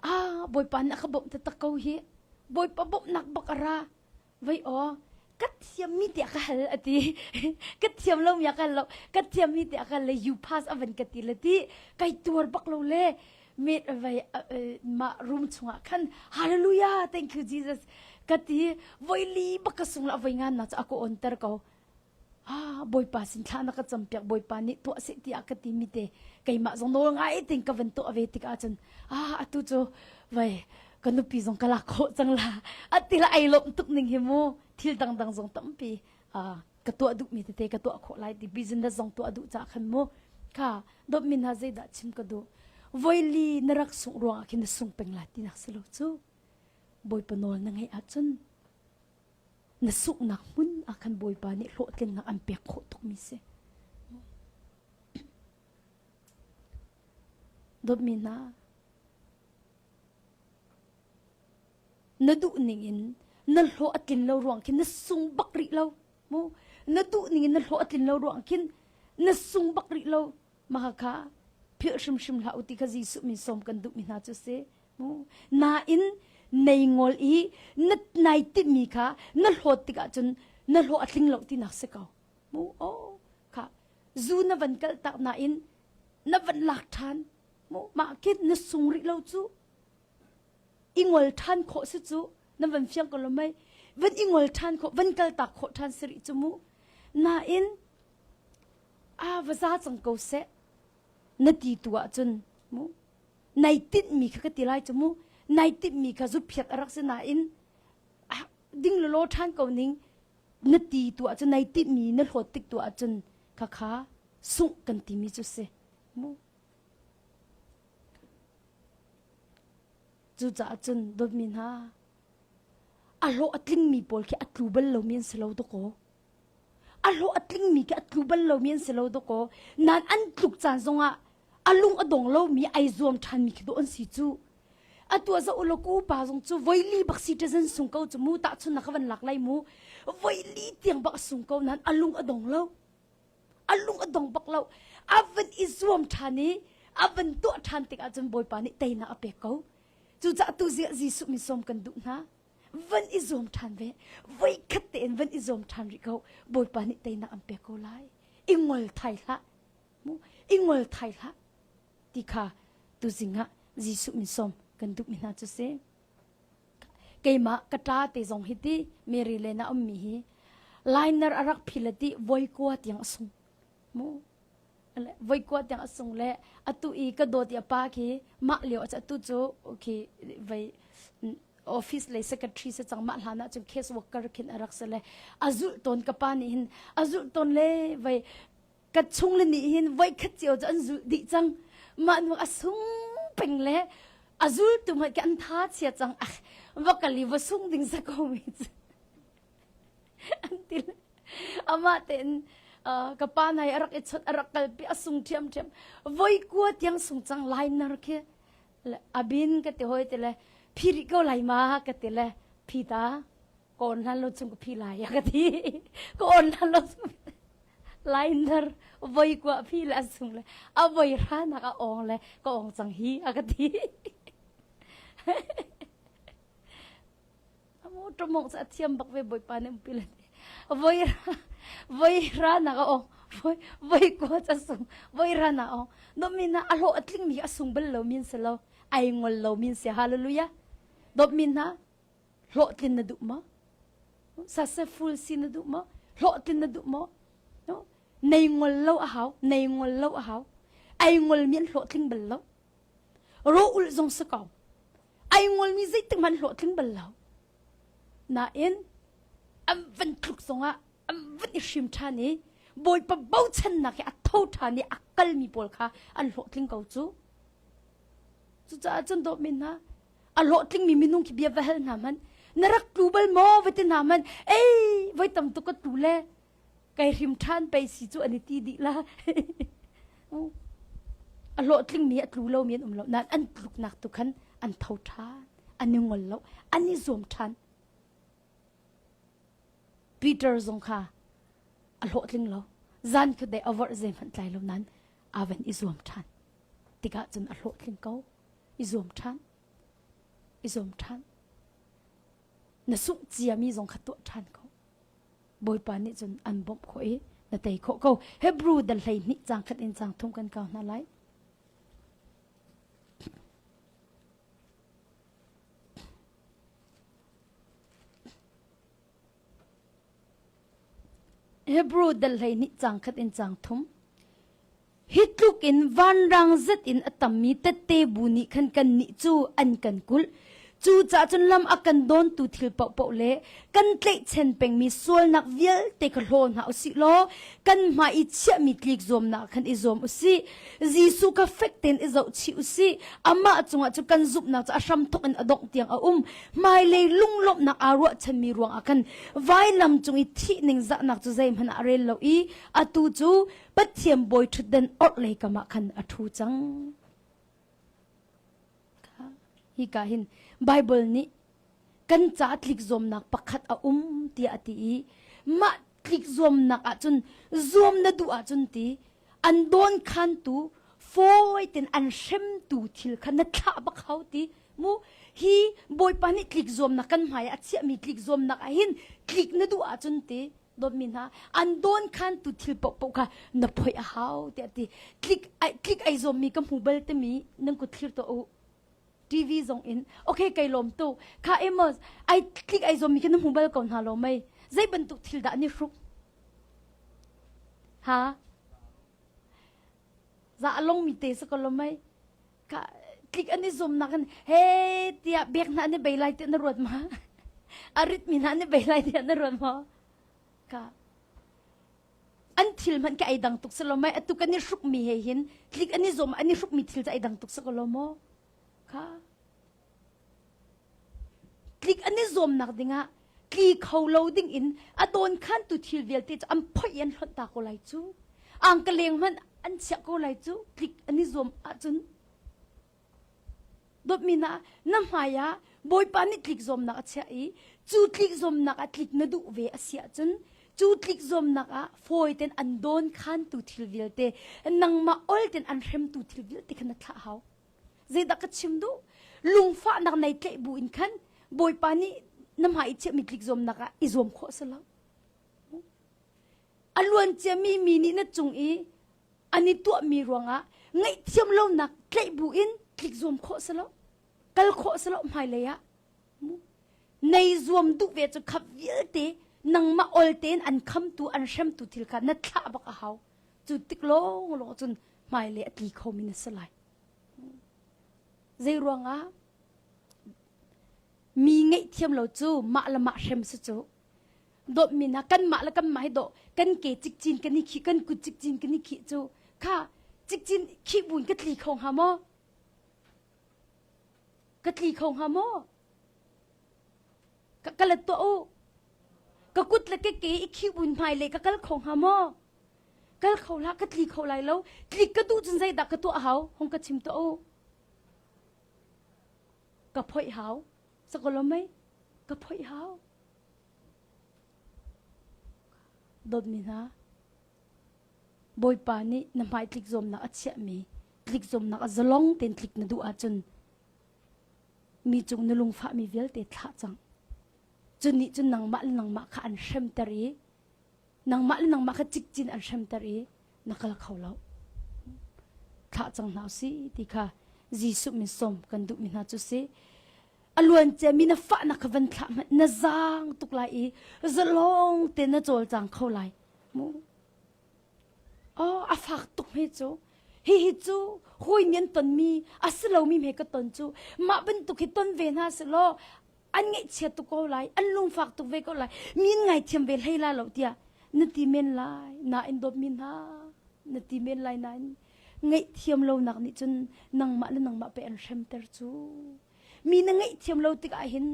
ah bawipa na ka bawmh taktak ko hi bawipa bawmhnak bak a ra vei aw ka thiam mi tiah ka hal a ti ka thiam lo mi a ka lo ka thiam mi tiah ka le you pass a van ka ti le ti kai tuar bak lo le met avei ma room chungah khan hallelujah thank you jesus ka ti voi li baka sung la voi ngan na cha ko on ter ko ah Bawipa sin thla na ka campiak Bawipa nih tuah seh tiah ka timi te keimah zong nawl ngai tein ka van tuah ve tik ahcun ah atu cu vai ka nupi zong ka lak khawh cang la atila ai lawm tuk ning hi mu thil dangdang zong tampi ah ka tuah duhmi tete ka tuah khawh lai ti business zong tuah duh ca khan mu ka dop min ha zeidah chim ka duh voili na rak sung ruangah khin na sung peng la ti nak silo cu Bawipa nawl na ngeih ahcun na sunghnak hmun ah khan Bawipa nih hlawhtlinnak an pek khawh tukmi si. Dawtmi hna, na duh ning in na hlawh a tlin lo ruang khin na sung bak rih lo. Mu, na duh ning in na hlawh a tlin lo ruang khin na sung bak rih lo. Mahakha philh hrimhrim hlah u ti kha Jesuh min sawm kan duhmi hna cu si. nain nei ngol i na nai timmi kha na hlawt tikah cun na hlawh a tling lo tinak si ko mu o kha zu na van kalh tak nain na van lak ṭhan mu mah khin na sung rih lo cu i ngol ṭhan khawh si cu na van fiang ko lo mei van i ngol ṭhan khawh van kal tak khawh ṭhan si rih cu mu nain a va za cang ko seh na ti tu ahcun mu nai tinhmi kha ka ti lai cu mu nai tinhmi kha zuphiak a rak si nain ah, ding le law ṭhan ko ning na ti tu ahcun nai tinhmi na hlawt tik tu ahcun khakha sungh kan timi cu si mu cucaah cun dawtmi hna a hlawh a tlingmi pawl khi a tlu bal lomi an si lo dawkaw A hlawh a tlingmi khi a tlu bal lomi an si lo dawkaw. Nan an tluk caan zongah a lung a dong lomi ai zuam ṭhanmi khi dawh an si cu. Atu a za ulaw ka upa zong cu voili bak si ṭazan sung ko cu mu tahchun na ka van lak lai mu. Voili tiang bak a sung ko nain a lung a dong lo. A lung a dong bak lo. A van i zuam ṭhan i a van tuah ṭhan tik ahcun Bawipa nih teinak a pek ko. Cucaah tu ziah Jesuh min sawm kan duh hna. van i zuam ṭhan ve voi khat tein van i zuam ṭhan rih ko bawipa nih teinak an pek ko lai i ngol thai hlah mu i ngol thai hlah ti kha tuzing ah Jesuh min som kan duhmi hna cu si keimah ka ṭa te zong hi ti Mary le na ummi hi lainar a rak phil ti voi kua tiang a sung mu voi kua tiang a sung le atu i ka dawt i a pa khi mah lio a atu cu khi vei office le secretary se chang mah hlan ah cun case worker khin a rak se le a zulh ton ka pa nih hin a zulh ton le vei ka chung le nih hin voi khat cio cu an zulh dih cang mah nu a sung peng le a zul tu mai ke an tha chia cang ach va kali va sung ding sa ko mi cu an ti le amah tein ka pa nai a rak i chawt a rak kalpi a sung ṭhiam ṭhiam voi kua tiang sung cang lainar khi abin ka ti hoi ti le phiri ko lai ma ka ti le phi ta ko on hlan lo chung ka phi lai ya ka ti ko on hlan lo chung lainar voi kua phi le a sung le a voi ra nak a ong le ka ong cang hi a ka ti A motor mong sa thiam bak ve boipa ne umpi le voi voi ra na ga o voi voi ko cha sung voi ra na o no min na alo atling mi asung bel lo min se lo ai ngol lo min se hallelujah dop min na hlo tlin na du mo successful si na du mo hlo tlin na du mo no nei ngol lo a hau nei ngol lo a hau ai ngol min hlo tling bel lo ro ul zong se ko ai ngolmi zeitik hmanh hlawhtling bal lo. Nain an van thluk zongah an van i hrim ṭhan i Bawipa bochannak he a tho ṭhan i a kalmi pawl kha an hlawhtling ko cu. Cucaah cun dawtmi hna, a hlawhtlingmi minung khi bia va hal hna hmanh, na rak tlu bal maw? Va ti hna hmanh, ei, voi tam tuk ka tlu le Kei hrim ṭhan pei si cu an i ti dih la. a hlawhtlingmi a tlu lomi an um lo nain an tluknak tu khan an tho ṭhan an i ngol lo an i zuam ṭhan Peter zong kha a hlawhtling lo zan cu dei a vorh zei hmanh tlai lo nain a van i zuam ṭhan tikah cun a hlawhtling ko i zuam ṭhan i zuam ṭhan na sungh ciami zong kha tuah ṭhan ko Bawipa nih cun an bawmh khawh i na tei khawh ko. Hebrew dan hleihnih cang khat in cang thum kan kau hna lai. Hebrew dal hlei nih cang khat in cang thum. Hi tluk in vanrang zet in a tammi tette bu nih khan kannih cu an kan kulh. Cucaah cun lam a kan dawntu thil paohpaoh le kan tleihchen pengmi sualnak vialte kha hlaw hna u sih law kan hmai i chiahmi tlik zuamnak khan i zuam u sih. Jesuh kha fek tein i zohchih u sih. Amah cungah cu kan zumhnak cu a hramthawk in a dongh tiang a um. Hmailei lunglawmhnak aa ruahchanmi ruangah khan vailam cung i thih ningzahnak cu zeihmanh ah a rel lo i atu cu Pathian bawiṭhutden orhlei kamah khan a ṭhu cang. Hika hin Baibal nih kan ca tlik zuamnak pakhat a um tiah a ti i mah tlik zuamnak ahcun zuam na duh ahcun ti an dawn khantu fawi ten an hremtu thil kha na thlah bak hau ti mu hi bawipa nih tlik zuamnak kan hmai a chiahmi tlik zuamnak ah hin tlik na duh ahcun ti dawtmi hna an dawn khantu thil paohpaoh kha na phoi a hau tiah ti tlik ai tlik ai zawmmi ka hmu bal timi nan ku thlir to u TV zong in okay kai lom tu kha Amos ai tlik ai zawmmi ka na hmu bal ko hna lo mei zei bantuk thil dah ni hruk ha za long mi te sa ko lo mei ka tlik an i zumnak in he tiah bek hna an i bei lai tiah na ruat ma a ritmi hna an i bei lai tiah na ruat maw ka an thil hmanh ka ei dang tuk si lo mai atu kan i hrukmi he hin tlik an i zom an i hrukmi thil cu ei dang tuk si ko lo maw ka tlik an i zuamnak dingah tli kho lo ding in a dawn khan tu thil vialte cu an phoih i an hlonh ta ko lai cu ang ka leng hmanh an chiah ko lai cu tlik an i zuam ahcun dawtmi na na hmai ah bawipa nih tlik zuamnak a chiah i cu tlik zuamnak ah tlik na duh ve a si ahcun cu tlik zuamnak ah fawi ten an dawn khan tu thil vialte nangmah ol ten an hremtu thil vialte kha na thlah hau zeidah ka chim duh lungfahnak nei tleih bu in khan bawipa nih na hmai i chiahmi tlik zuamnak ah i zuam khawh a si lo a luancia mi mi nih na cung i an i tuahmi ruangah ngaihthiam lonak tleih bu in tlik zuam khawh a si lo kal khawh a si lo hmailei ah nei zuam duh ve cu khap vialte nangmah ol tein an khamtu an hremtu thil kha na thlah bak a hau cu tik lawng lawng cun hmailei a tli khomi na si lai Zeiruangah? Mi ngeihthiam lo cu mah le mah hrem si cu. Dawtmi hna, kanmah le kanmah hi dawh kan ke cikcin kan i khih, kan kut cikcin kan i khih cu. Kha cikcin khih buin ka tli kho hnga maw? Ka tli kho hnga maw? Ka, ka let tuah u. Ka kut le keke i khih buin hmailei ka kal kho hnga maw? kal kho hlah ka tli kho lai lo tlik ka tu cun zeidah ka tuah hau hong ka chim to u ka phoih hau sakolo mei ka phoih hau dotmi hna bawipa nih na hmai tlik zomnak a chiahmi tlik zomnak a zalong ten tlik na duh ahcun mi cung na lungfahmi vialte thlah cang cun nih cun nangmah le nangmah kha an hremter i nangmah le nangmah kha cikcin an hremter i na kal kho lo. Thlah cang hna u si ti kha Jesuh min som kan duhmi hna cu si. A luancia mi na fahnak kha van thlah hmanh na zaang tuk lai i zalong te na cawlcang kho lai. Mu. Oh, a fak tuk hme cu. Hihi cu hawi nian tonmi a si lomi hme ka ton cu mah bantuk hi ton ve hna si law an ngaihchia tuk ko lai an lungfak tuk ve ko lai min ngaithiam ve hlei la lo tiah na ti men lai na in dawp mi hna na ti men lai na in ngaihthiam lonak nih cun nangmah le nangmah pe an hremter cu mi na ngaihthiam lo tikah hin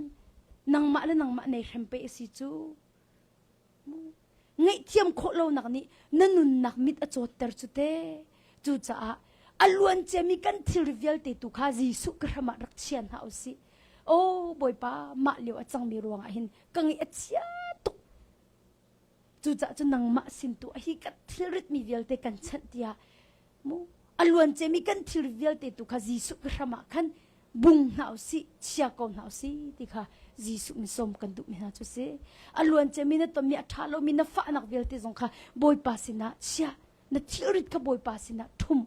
nangmah le nangmah nei hrem pe a si cu ngaihthiam khawh lonak nih na nunnak mit a cawtter cu te cucaah a luanciami kan thilri vialte tu kha Jesuh ka hram ah rak chia hna u sih aw bawipa mah lio a cangmi ruangah hin ka ngaih a chia tuk cucaah cu nangmah sin tu a hi kan thilritmi vialte kan chanh tiah A luan cemi kan thil vialte tu kha Jesuh ke hram ah khan bung hna u sih, chia ko hna u sih ti kha Jesuh min sawm kan duh mi hna cu si. A luan cemi na ton mi a ṭha lomi na fahnak vialte zong kha Bawipa sinah chia, na thilrit kha Bawipa sinah ṭhum.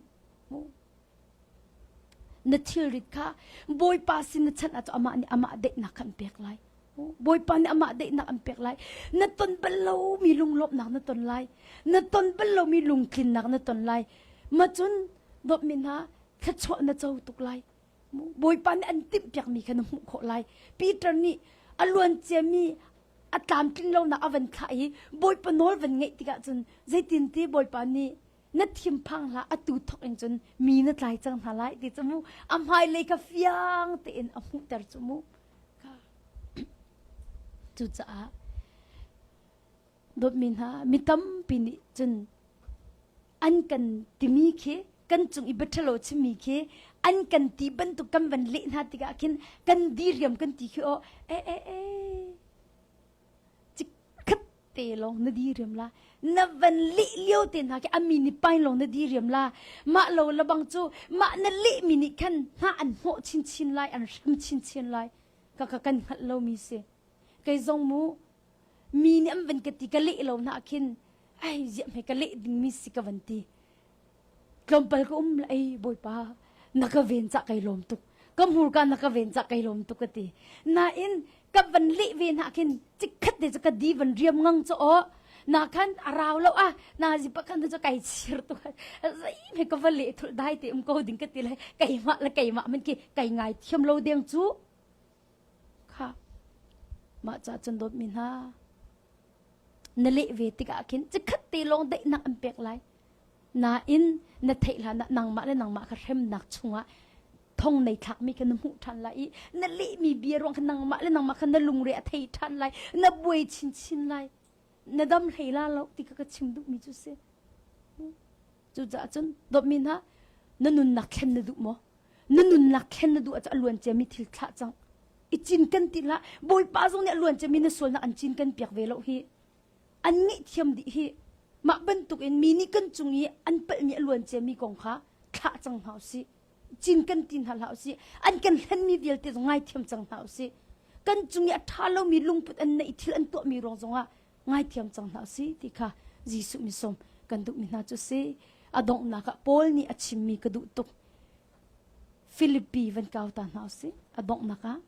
Na thilrit kha Bawipa sin na chanh ah cun amah nih amah daihnak kha an pek lai. Bawipa nih amah daihnak an pek lai. Na ton bal lomi lunglawmhnak na ton lai. Na ton bal lomi lungtlinnak na ton lai. Macun dawtmi hna thluachuah na co tuk lai. Bawipa nih an timhpiakmi kha na hmuh khawh lai. Peter nih a luanciami a tlamtling lonak a van thlah i Bawipa nawl van ngaih tikah cun zeitinti Bawipa nih na thinphang hlah atu thok in cun mi na tlai cang hna lai ti cu mu a hmailei kha fiang tein a hmuhter cu mu cucaah dawtmi hna mi tampi nih cun an kan timi khi kan cung i bathalo chimi khi an kan ti bantuk kan van leh hna tikah khin kan diriam kan ti khi o e e e cikhat te lawng na di riam la na van lih lio te hna khi ami ni pai lawng na di riam la mah lo labang cu mah na lih mi nih khan hna an hmawh chinchin lai an hrem chinchin lai ka ka kan hngalh lo mi si kei zong mu mi nih an van ka ti ka lih lo na khin ai ziah mei ka lih ding mi si ka van ti tlawmpal ka um la ei bawipa na ka ven cah kai lawm tuk ka hmurka na ka ven cah kai lawm tuk ka ti nain ka van leh ve na khin cikhat te cu ka di van riam ngang cu o na khan arau lo a na ji pa khan chu kai chir tu zai me ka va le thul dai te um ko ding ka ti lai kai ma la kai ma man ki kai ngai thiam lo deng chu kha ma cha chun dot min ha Na leh ve tikah khin cikhat te lawng daihnak an pek lai. Nain na theih hlan ah nangmah le nangmah kha hremnak chungah thong nei thlakmi kha na hmuh ṭhan lai i na lehmi bia ruang kha nangmah le nangmah kha na lungre a thei ṭhan lai na buai chinchin lai na dam hlei la lo ti kha ka chim duhmi cu si cucaah cun dawtmi hna na nunnak thlen na duh maw na nunnak khen na duh ah a luan ciami thil thlah cang i cinken ti hlah bawipa zong nih a luan ciami na sualnak an cinken piak ve lo hi an ngeihthiam dih hi mah bantuk in mi nih kan cung i an palhmi a luan ciami kong kha thlah cang hna usih cinken ti hna hlah usih an kan hlenmi vialte zong ngaithiam cang hna usih kan cung i a ṭha lomi lungput an neih thil an tuahmi ruang zongah ngaithiam cang hna si ti kha Jesuh mi som kan duhmi hna cu si a donghnak ah Paul nih a chimmi ka duh tuk Philippi van kau ta hna si a donghnak ah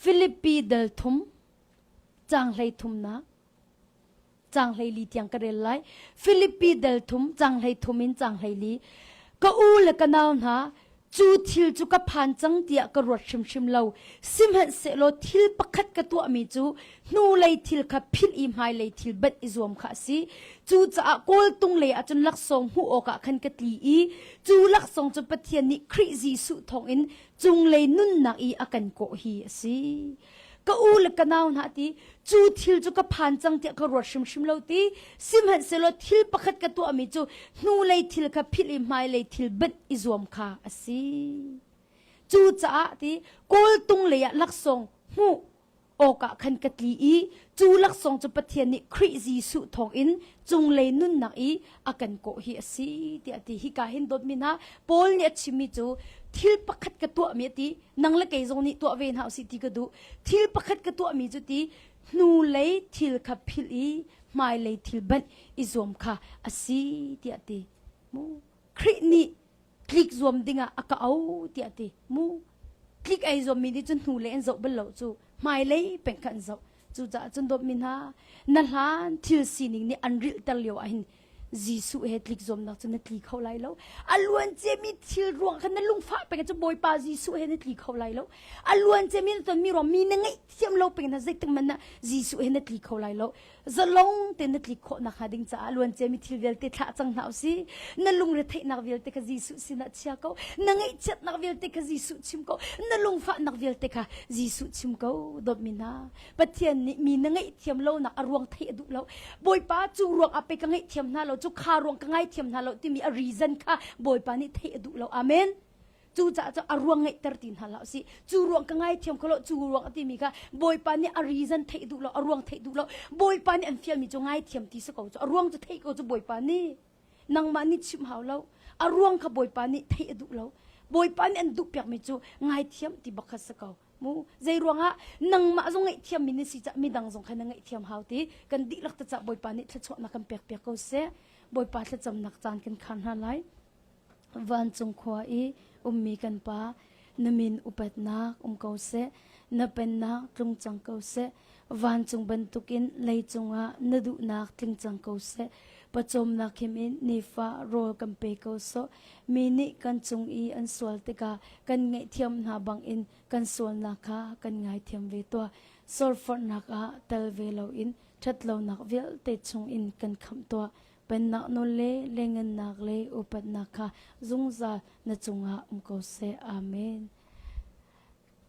Philippi dal thum cang hlei thumnak changhlei li tiang ka rel lai philippi dal thum changhlei thum in changhlei li ka u le ka nau hna cu thil cu ka phan cang tiah ka ruat hrimhrim lo sihmanh se law thil pakhat ka tuah mi cu hnu lei thil kha philh i hmai lei thil bat i zuam kha a si cu caah kawltung lei ah cun laksawng hmuh awkah khan ka tli i cu laksawng cu Pathian nih Khrih Jesuh thawngin cunglei nunnak i a kan kawh hi a si ka u le ka nau hna ti cu thil cu ka phan cang tiah ka ruat hrimhrim lo ti sihmanhsehlaw thil pakhat ka tuahmi cu hnu lei thil kha philh i hmai lei thil bet i zuam kha a si cu caah ti kawltung lei ah laksawng hmuh awkah khan ka tli i cu laksawng cu Pathian nih Khrih Jesuh thawngin cunglei nunnak i a kan kawh hi a si tiah ti hika hin dawtmi hna Paul nih a chimmi cu thil pakhat ka tuahmi ti nang le kei zong nih tuah ve hna usih ti ka duh thil pakhat ka tuahmi cu ti hnu lei thil kha philh i hmailei thil banh i zuam kha a si tiah ti Khrih nih tlik zuam dingah a ka au tiah ti mu tlik ei zuammi nih cun hnule an zoh bal lo cu hmailei peng khan zoh cucaah cun dawtmi hna na hlan thil sining nih an rilhter lio ahhin Jesuh he tlik zuamnak cu na tli kho lai lo a luan ciami thil ruang khan na lungfah peng cu Bawipa Jesuh he na tli kho lai lo a luan ciami na tonmi ruang mi na ngeih thiam lo peng na zeitik hmanh ah Jesuh he na tli kho lai lo zalong te na tlik khawh nak hnga ding caah luancia mi thil vialte thlah cang hna usi na lungre theihnak vialte kha Jesuh sinah chia ko na ngaihchiatnak vialte kha Jesuh chim ko na lungfahnak vialte kha Jesuh chim ko dawt mi hna Pathian nih mi na ngaihthiam lonak a ruang thei a duh lo Bawipa cu ruang ah pei ka ngaihthiam hna lo cu kha ruang ka ngaithiam hna lo timi a reason kha Bawipa nih theih a duh lo amen Cucaah cu a ruang ngeihter ti hna hlah usih. Cu ruang ka ngaithiam ko lo. Cu ruang a timi kha Bawipa nih a reason theih duh lo, a ruang theih duh lo. Bawipa nih an fialmi cu ngaithiam ti si ko cu. A ruang cu theih ko cu Bawipa nih. Nangmah nih chim hau lo. A ruang kha Bawipa nih theih a duh lo. Bawipa nih an duh piakmi cu ngaithiam ti bak kha si ko. Mu. Zei ruangah? Nangmah zong ngaihthiammi na si caah midang zong kha na ngaihthiam hau ti. Kan dihlak te caah Bawipa nih thluachuahnak kan pek piak ko seh. Bawipa thlacamnak caan kan khar hna lai. Vancung khua i ummi kan Pa, na min upatnak um ko seh. Na pennak tlung cang ko seh. Vancung bantukin lei cungah na duhnak tling cang ko seh. Pawcawmnak him in nifa rawl kan pe ko sawh. Mi nih kan cung i an sual tikah kan ngaihthiam hna bangin kan sualnak kha kan ngaithiam ve tuah. Sorforhnak ah tel ve loin ṭhatlonak vialte chungin kan khamh tuah. Pennak nawl le lengennak le upatnak kha zungzal na cungah um ko seh. Amen.